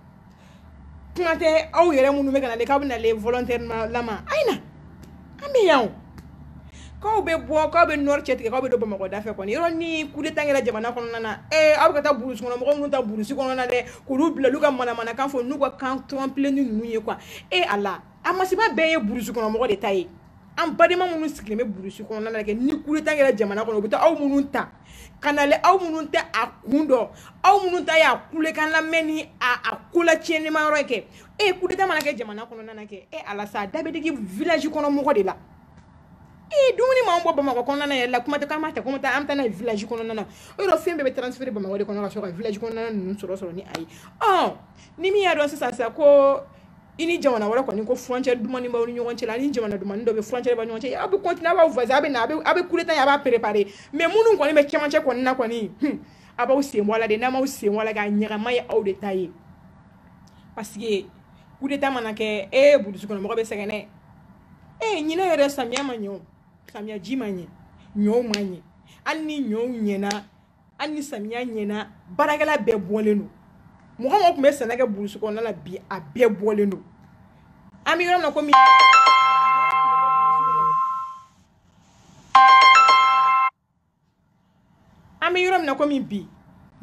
kuma tɛ aw yɛrɛ minnu bɛ ka na de k'aw bɛ na le volontaire lama a ye na an bɛ yan o k'aw bɛ bɔ k'aw bɛ nord cɛtigɛ k'aw bɛ don bamakɔ da fɛ kɔni yɔrɔ ni coup d'état kɛra jamana kɔnɔna na ee aw bɛ ka taa burusi kɔnɔ mɔgɔ minnu ta burusi kɔnɔna dɛ k'olu bila olu ka manamanakan fɔ n'u ka kan tɔnpileni ninnu ye quoi e a la a masiba bɛɛ ye burusi kɔnɔ mɔgɔ de ta ye an badema minnu sigilen bɛ burusi kɔnɔna na kɛ ni coup d'état kɛra jamana kɔnɔ u bɛ taa aw minnu ta ka na le aw minnu tɛ a kun dɔn aw minnu ta y'a kulekan lamɛn ni a kola tiɲɛnima yɔrɔ ye kɛ e ye kudeta mana kɛ jamana kɔnɔna kɛ e ala sa da bɛ digi village kɔnɔ mɔgɔ de la ee dumuni m'anw bɔ bamakɔ kɔnɔna yɛrɛ la kuma tɛ k'an b'a ta ka taa an bɛ taa n'a ye village kɔnɔna na o yɔrɔ fɛn bɛɛ bɛ transférer bamakɔ de kɔnɔ ka sɔrɔ ka village kɔnɔna ninnu sɔrɔ sɔrɔ ni a ye ɔ ni min y'a dɔn sisan sa ko i ni jamana wɛrɛ kɔni ko furancɛ dumuni b'aw ni ɲɔgɔn cɛ la ni jamana dumuni dɔ bɛ furancɛ b'a ɲɔgɔn cɛ aw bɛ kɔntina b'aw fɛ a bɛ na aw bɛ kudeta a b'a perepare mɛ minnu kɔni bɛ cɛmancɛ kɔni na kɔni a b'aw sen bɔ la de n'a m'aw sen bɔ la k'a ɲagama ye aw de ta ye paseke kudeta mana kɛ e burusi kɔnɔ mɔgɔ bɛ sɛgɛn dɛ e ɲinan yɛrɛ samiya ma ɲɛ samiya ji ma ɲɛ ɲɔw ma ɲɛ hali ni ɲɔw ɲɛna hali ni samiya ɲɛna baarakɛla bɛɛ bɔlen don mɔgɔ mɔgɔ tun bɛ sɛnɛ kɛ burusi kɔnɔna la bi a bɛɛ bɔlen don an bɛ yɔrɔ min na komi an bɛ yɔrɔ min na komi bi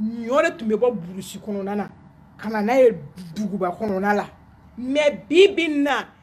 ɲɔ de tun bɛ bɔ burusi kɔnɔna na ka na n'a ye duguba kɔnɔna la mɛ bi bi na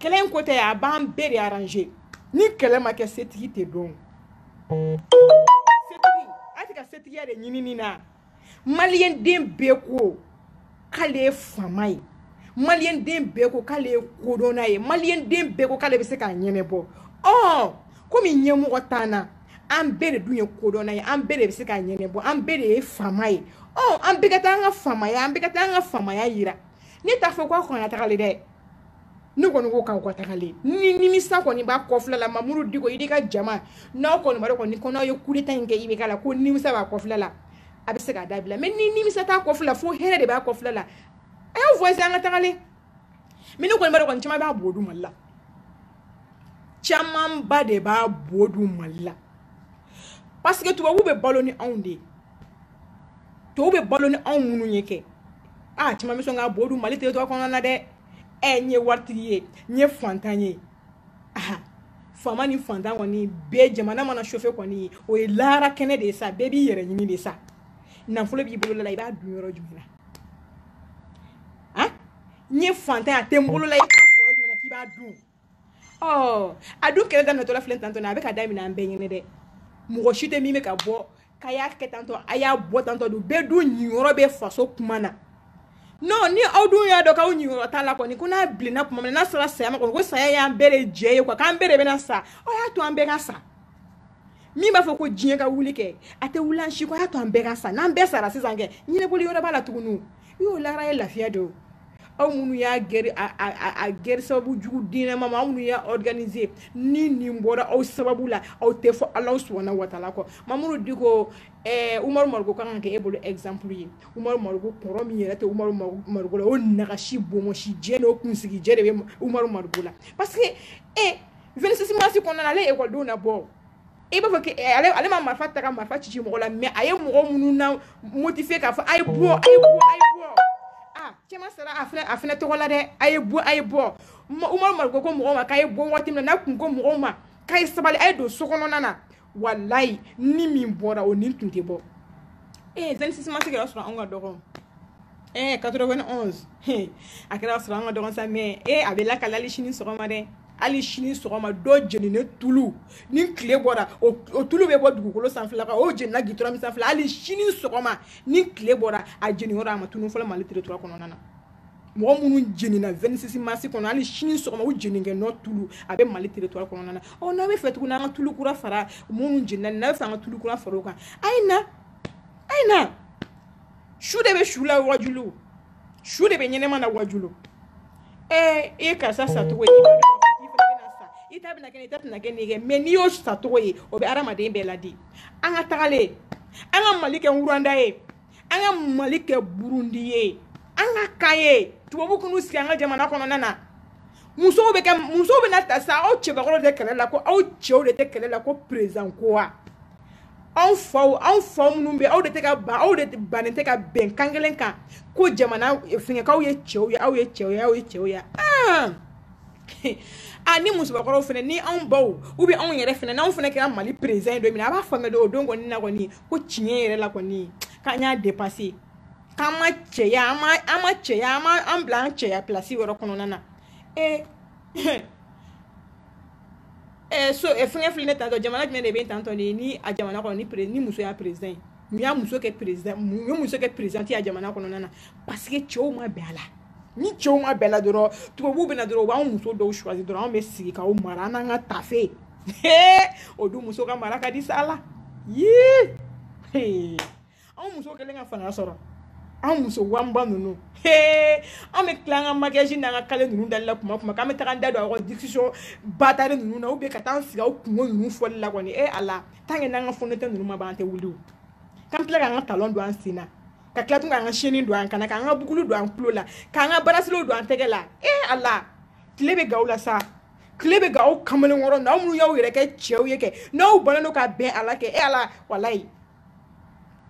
kɛlɛ in ko tɛ a b'an bɛɛ de arrange ni kɛlɛ ma kɛ setigi tɛ dɔn setigi a tɛ ka setigiya de ɲinini na maliyɛnden bɛɛ ko k'ale ye faama ye maliyɛnden bɛɛ ko k'ale ye kodɔnna ye maliyɛnden bɛɛ ko k'ale bɛ se k'a ɲɛnɛbɔ ɔ komi ɲɛmɔgɔ t'an na an bɛɛ de dun ye kodɔnna ye an bɛɛ de bɛ se k'a ɲɛnɛbɔ an bɛɛ de ye faama ye ɔ an bɛɛ ka taa an ka faamaya an bɛɛ ka taa an ka faamaya yira ne t'a fɔ ko a kana taga ɲɛ dɛ ne kɔni ko k'aw ka taga ɲɛ ni nimisa kɔni b'a kɔfɛla la mamuru diko i ka jama n'aw kɔni b'a dɔn ko n'aw ye kudeta in kɛ i bɛ k'a la ko nimisa b'a kɔfɛla la a bɛ se k'a dabila mɛ ni nimisa t'a kɔfɛla fo hɛrɛ de b'a kɔfɛla la a y'aw voisin an ka taga ɲɛ mɛ ne kɔni b'a dɔn caman b'a bo dun mali la camanba de b'a bo dun mali la parce que tubabu bɛ balo ni anw de ye tɔw bɛ balo ni anw minnu ye kɛ a caman bɛ sɔn ka bo dun mali territoire kɔnɔna na dɛ ɛ n ye waritigi ye n ye fantan ye aha faama ni fantan kɔni bɛɛ jamana mana chauffer kɔni o ye lahara kɛnɛ de ye sa bɛɛ b'i yɛrɛ ɲini de sa nafolo b'i bolo la i b'a dun yɔrɔ jumɛn na n ye fantan a tɛ n bolo la i t'a sɔrɔ jumɛn na k'i b'a dun ɔ a dun kɛlɛ daminɛtɔla filɛ tantɔ na a bɛ ka daminɛ an bɛɛ ɲɛna dɛ mɔgɔ si tɛ min bɛ ka bɔ k'a y'a kɛ tantɔ a y'a bɔ tantɔ dun bɛɛ dun niyɔrɔ bɛ faso kuma na non ni aw dun y'a dɔn k'aw niyɔrɔ t'a la kɔni ko n'a bilenna tuma min na n'a sera saya ma kɔni ko saya y'an bɛɛ de jɛ ye quoi k'an bɛɛ de bɛna sa aw y'a to an bɛɛ ka sa min b'a fɔ ko diɲɛ ka wuli kɛ a tɛ wuli an si kɔ a y'a to an bɛɛ ka sa n'an bɛɛ sara sisan kɛ ɲɛnabɔli yɔrɔ b'a la tuguni y'o lahara ye lafiya de aw minnu y'a gɛrɛ a gɛrɛ sababu jugu diinɛma ma aw minnu y'a organiser ni nin bɔra aw sababu la aw tɛ fɔ Alahu subahana wataala kɔ Mamuru Diko ɛɛ Umaru Mariko ka kan ka kɛ e bolo exemple ye Umaru Mariko kɔrɔ min yɛrɛ tɛ Umaru Mariko la o nagasi bonbonsi jɛ n'o kunsigi jɛ de bɛ Umaru Mariko la parce que e 26 mars kɔnɔna na ale ye ekɔlidenw labɔ i b'a fɔ ale ma marifa ta ka marifa ci mɔgɔ la mɛ a ye mɔgɔ minnu na motiver k'a fɔ a ye bɔ a ye bɔ a ye bɔ aa caman sara a filɛ a filɛ tɔgɔ la dɛ a ye bɔ a ye bɔ umaru mariko ko mɔgɔw ma k'a ye bɔ waati min na n'a tun ko mɔgɔw ma k'a ye sabali a ye don so kɔnɔna na walayi ni min bɔra o ni tun tɛ bɔ ee 26 mars kɛra sɔrɔ anw ka dɔgɔn ee 91 a kɛra sɔrɔ an ka dɔgɔn sa mɛ ee a bɛ lakalali sini sɔgɔma dɛ hali sini sɔgɔma dɔ jeninen tulu ni tile bɔra o tulu bɛ bɔ dugukolo sanfɛla kan o jenina gitɔrɔn min sanfɛla hali sini sɔgɔma ni tile bɔra a jeniyɔrɔ a ma tunu fɔlɔ mali territoire kɔnɔna na mɔgɔ minnu jenina 26 mars kɔnɔ hali sini sɔgɔma u jenikɛ nɔ tulu a bɛ mali territoire kɔnɔna na ɔ n'a b'a fɛ tuguni an ka tulu kura fara minnu jenina n'a b'a fɛ an ka tulu kura fara o kan a ye na a ye na su de bɛ su lawajulu su de bɛ ɲɛnama lawajulu ɛɛ i ye karisa sacogo ye i ta bɛna kɛ i ta tɛna kɛ nin ye mɛ n'i y'o sacogo ye o bɛ adamaden bɛɛ laadi an ka taga ɲɛ an ka mali kɛ wuranda ye an ka mali kɛ burundi ye an ka kan ye tubabu kunu sigi an ka jamana kɔnɔna na musow bɛ kɛ musow bɛna taa sa aw cɛbakɔrɔ de tɛ kɛlɛ la ko aw cɛw de tɛ kɛlɛ la ko perezan ko wa anw faw anw fa minnu bɛ aw de tɛ ka ban aw de bannen tɛ ka bɛn kan kelen kan ko jamana eh, fɛngɛ k'aw ye cɛw ye aw ye cɛw ye aw ye cɛw ye ah! a ni musobakɔrɔw fana ni anw baw u bɛ anw yɛrɛ fana n'anw fana kɛra mali président ye don min na a b'a faamuya don o don kɔni na kɔni ko tiɲɛ yɛrɛ la kɔni k'an y'a depase k'an ma cɛya an ma an ma cɛya an ma an bila an cɛya pilasi yɔrɔ kɔnɔna na ee eh, Eh, so eh, fɛngɛ filɛ ne tantɔ jamana jumɛn de bɛ tantɔ de ni a jamana kɔnɔ ni pere ni muso y'a président ye mun ye muso kɛ président mun ye muso kɛ président ye a jamana kɔnɔna na parce que cɛw ma bɛn a la ni cɛw ma bɛn a la dɔrɔn tubabuw bɛ na dɔrɔn u b'anw muso dɔw choisi dɔrɔn anw bɛ sigi k'aw mara an n'an ka tafe o dun muso ka mara ka di sa la yii anw muso kɛlen ka fanga sɔrɔ an muso wanba ninnu he an bɛ tila an ka makiyaji n'an ka kale ninnu dali la kuma jumɛn k'an bɛ taga an da don aw ka discussion batari ninnu na ou bien ka taa an sigi aw kunko ninnu fɔli la kɔni e ala tant que n'an ka fond de teint ninnu ma ban an tɛ wuli o k'an tila k'an ka talon don an sen na ka tila tun k'an ka seni don an kan na k'an ka bukulu don an tulo la k'an ka barasilew don an tɛgɛ la e ala tile bɛ gan aw la sa tile bɛ gan aw kamalenkɔrɔ na aw minnu y'aw yɛrɛ kɛ cɛw ye kɛ n'aw bannen don ka bɛn a la kɛ e ala walayi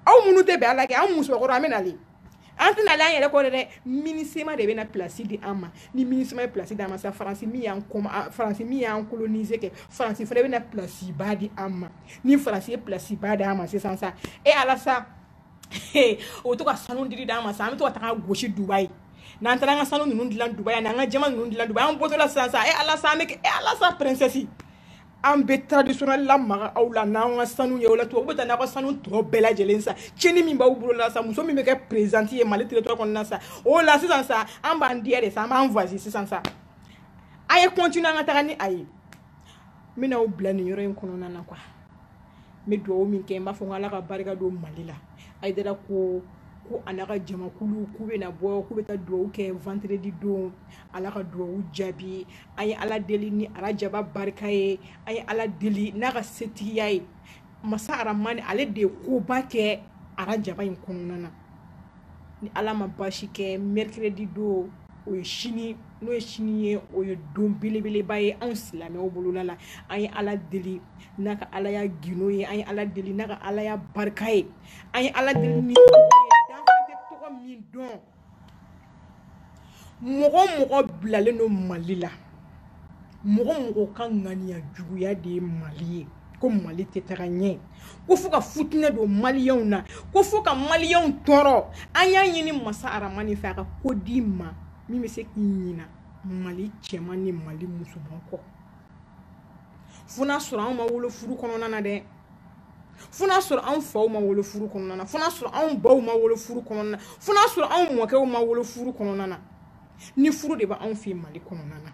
aw minnu tɛ bɛn a la kɛ an musokɔrɔ an bɛ nalen an tɛna ale an yɛrɛ kɔ dɛ dɛ MINUSMA de bɛna pilasi di an ma ni MINUSMA ye pilasi d'an ma sa faransi min y'an kɔma ah, faransi min y'an kolonize kɛ faransi fana bɛna pilasiba di an ma ni faransi ye pilasiba d'an ma sisan sa e ala sa o bɛ to ka sanu dili d'an ma sa an bɛ to ka taga gosi dubayi n'an taara an ka sanu ninnu dilan dubayi an n'an ka jaman ninnu dilan dubayi an bɔtɔla sisan sa e ala sa an bɛ kɛ e ala sa princesse an bɛ traditionnel lamaga aw la n'an ka sanu ye o la tubabu bɛ taa n'aw ka sanu tɔ bɛɛ lajɛlen sa tiɲɛni min b'aw bolo la sa muso min bɛ kɛ présidente ye Mali territoire kɔnɔna sa o la sisan sa an b'an diya de sa an b'an voisin sisan sa a ye continuer an ka taga ni a ye n bɛna aw bila nin yɔrɔ in kɔnɔna na quoi n bɛ dugawu min kɛ n b'a fɔ ko Ala ka barika don Mali la Ayidara ko ko a n'a ka jamakulu k'u bɛna bɔ k'u bɛ taa dugawu kɛ vendredi don Ala ka dugawu jaabi an ye ala deli ni arajaba barika ye an ye ala deli n'a ka setigiya ye masa aramani ale de ye koba kɛ arajaba in kɔnɔna na ni ala ma baasi kɛ mercredi don o ye sini n'o ye sini ye o ye don belebeleba ye anw silamɛw bolola la an ye ala deli n'a ka alaya gundo ye an ye ala deli n'a ka alaya barika ye an ye ala deli ni danfɛn tɛ tɔgɔ min dɔn mɔgɔ o mɔgɔ bilalen don mali la mɔgɔ o mɔgɔ ka ŋaniya juguya de ye mali ye ko mali tɛ taga ɲɛ ko fo ka fitinɛ don maliyɛnw na ko fo ka maliyɛnw tɔɔrɔ an y'a ɲini masa aramani fɛ a ka ko d'i ma min bɛ se k'i ɲina mali cɛman ni mali musoman kɔ fo n'a sɔrɔ anw ma wolo furu kɔnɔna na dɛ fo n'a sɔrɔ anw faw ma wolo furu kɔnɔna na fo n'a sɔrɔ anw baw ma wolo furu kɔnɔna na fo n'a sɔrɔ anw mɔkɛw ma wolo furu kɔnɔna na ni furu de b'anw fɛ mali kɔnɔna na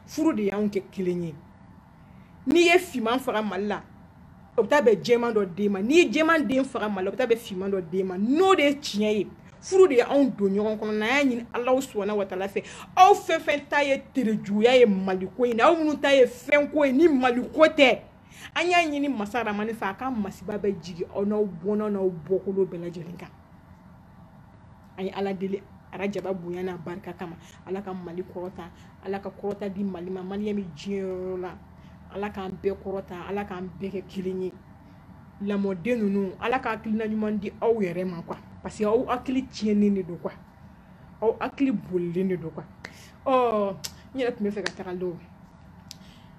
furu de y'anw kɛ kelen ye n'i ye finman faga mali la o bɛ taa bɛn jɛman dɔ den ma n'i ye jɛman den faga mali la o bɛ taa bɛn finman dɔ den ma n'o de ye tiɲɛ ye furu de ye anw don ɲɔgɔn kɔnɔ n'an y'a ɲini ala subahana watala fɛ aw fɛn fɛn ta ye terejuguya ye maliko in na aw minnu ta ye fɛnko ye ni maliko tɛ an y'a ɲini masa ramani fɛ a ka masiba bɛɛ jigin aw n'aw bɔnna n'aw bɔkolo bɛɛ lajɛlen kan an ye ala deli arajaba bonya n'a barika kama ala ka mali kɔrɔta ala ka kɔrɔta di mali ma maliyɛn bɛ diɲɛ yɔrɔ la ala k'an bɛɛ kɔrɔta ala k'an bɛɛ kɛ kelen ye ɲamɔden ninnu ala ka hakilina ɲuman di aw yɛrɛ ma kuwa parce que aw hakili tiɲɛnen de don kuwa aw hakili bolilen de don kuwa ɔ n yɛrɛ tun bɛ fɛ ka taga dɔw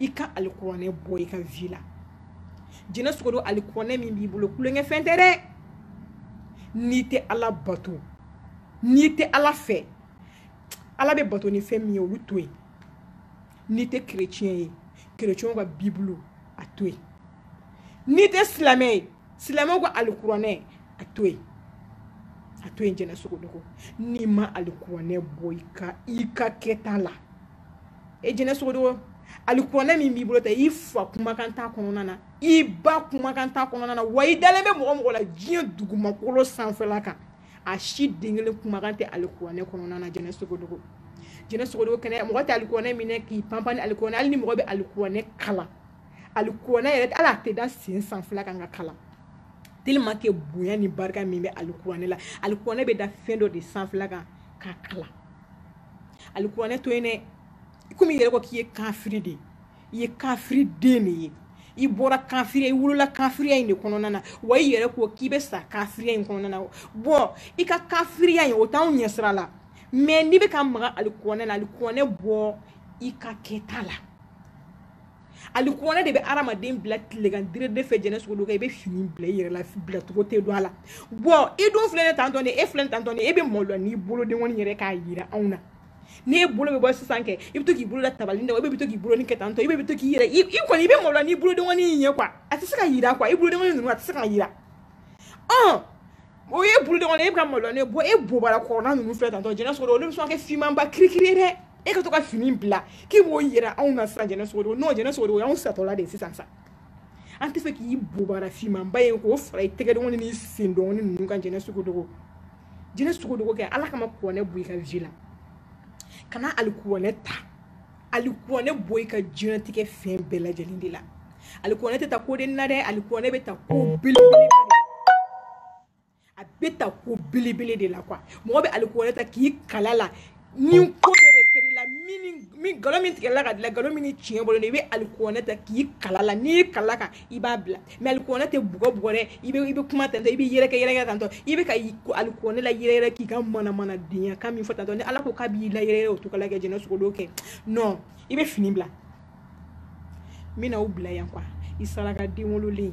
i ka alikuranɛ bɔ i ka vi la jɛnɛ sogodogo alikuranɛ min b'i bolo tulonkɛfɛn tɛ dɛ n'i tɛ ala bato n'i tɛ ala fɛ ala bɛ bato ni fɛn min ye olu to yen n'i tɛ kereciyɛn ye kereciyɛnw ka bibulu a to yen n'i tɛ silamɛ ye silamɛw ka alikuranɛ a to yen a to yen jɛnɛ sogodogo n'i ma alikuranɛ bɔ i ka i ka kɛta la e jɛnɛ sogodogo alikuranɛ min b'i bolo tan i fa kumakan t'a kɔnɔna na i ba kumakan t'a kɔnɔna na wa i dalen bɛ mɔgɔ o mɔgɔ la diɲɛ dugumakolo sanfɛla kan a si den kelen kumakan tɛ alikuranɛ kɔnɔna na jɛnɛ sogodogo jɛnɛ sogodogo jɛnɛ mɔgɔ tɛ alikuranɛ minɛ k'i panpan ni alikuranɛ hali ni mɔgɔ bɛ alikuranɛ kalan alikuranɛ yɛrɛ hali a tɛ da sen sanfɛla kan k'a kalan tellement que bonya ni barika min bɛ alikuranɛ la alikuranɛ bɛ da fɛn dɔ de sanfɛla kan k'a kalan alikuranɛ to yen dɛ i komi i yɛrɛ ko k'i ye kafiri de i ye kafiri den de ye i bɔra kafiriya i wolola kafiriya in de kɔnɔna na wa i yɛrɛ ko k'i bɛ sa kafiriya in kɔnɔna na bɔn i ka kafiriya in o t'anw ɲɛsira la mɛ n'i bɛ ka maga alikuranɛ la alikuranɛ bɔ i ka kɛta la alikuranɛ de bɛ adamaden bila tilegan direde fɛ jɛnɛ sogodogo kɛ i bɛ fini bila i yɛrɛ la bilacogo tɛ don a la bɔn i dun filɛ ne tantɔ e filɛ tantɔ e bɛ malo n'i bolodenw yɛrɛ k'a jira anw na n'i bolo bɛ bɔ sisan kɛ i bɛ to k'i bolo da tabali la i bɛ to k'i bolo ni kɛ tantɔ i bɛ to k'i yɛrɛ i kɔni i bɛ malo n'i bolodenw ye kuwa a tɛ se ka jira kuwa i bolodenw ninnu a tɛ se ka jira ɔ o ye bolo dɔgɔnin ye e bɛ ka maloya ne bɔ e bobara kɔrɔla ninnu filɛ tantɔ jɛnɛ sogodogo olu bɛ sɔn ka kɛ finmanba kirikiri ye dɛ e ka to ka fini bila k'i b'o yira anw na sisan jɛnɛ sogodogo jɛnɛ sogodogo o y'anw satɔla de ye sisan sa an tɛ fɛ k'i bobara finmanba ye k'o fara i tɛgɛ dɔgɔnin ni sen dɔgɔnin ninnu kan jɛnɛ sogodogo jɛnɛ sogodogo kɛ ala kama kuranɛ bɔ i ka vi la kana alikuranɛ ta alikuranɛ bɔ i ka diɲɛnatigɛ fɛn bɛɛ lajɛlen de la alikuranɛ tɛ ta koden na dɛ alikuranɛ bɛ ta ko belebele a bɛ ta ko belebele de la kuwa mɔgɔ bɛ alikuranɛ ta k'i kali a la ni ko bɛɛ de kɛra i la min nkalon min tigɛla ka da i la nkalon min ni tiɲɛ bolo i bɛ alikuranɛ ta k'i kali a la n'i y'i kali a kan i b'a bila mɛ alikuranɛ tɛ bugɔ bugɔ dɛ i bɛ i bɛ kuma tantɔ i bɛ yɛrɛkɛ yɛrɛkɛ tantɔ i bɛ ka alikuranɛ layɛrɛyɛrɛ k'i ka manamana denyakan min fɔ tantɔ ni ala ko k'a b'i layɛrɛyɛrɛ o cogo la kɛ jɛnɛ sogo kɛ non i bɛ fini bila n bɛna aw bila yan kuwa i saraka den wololen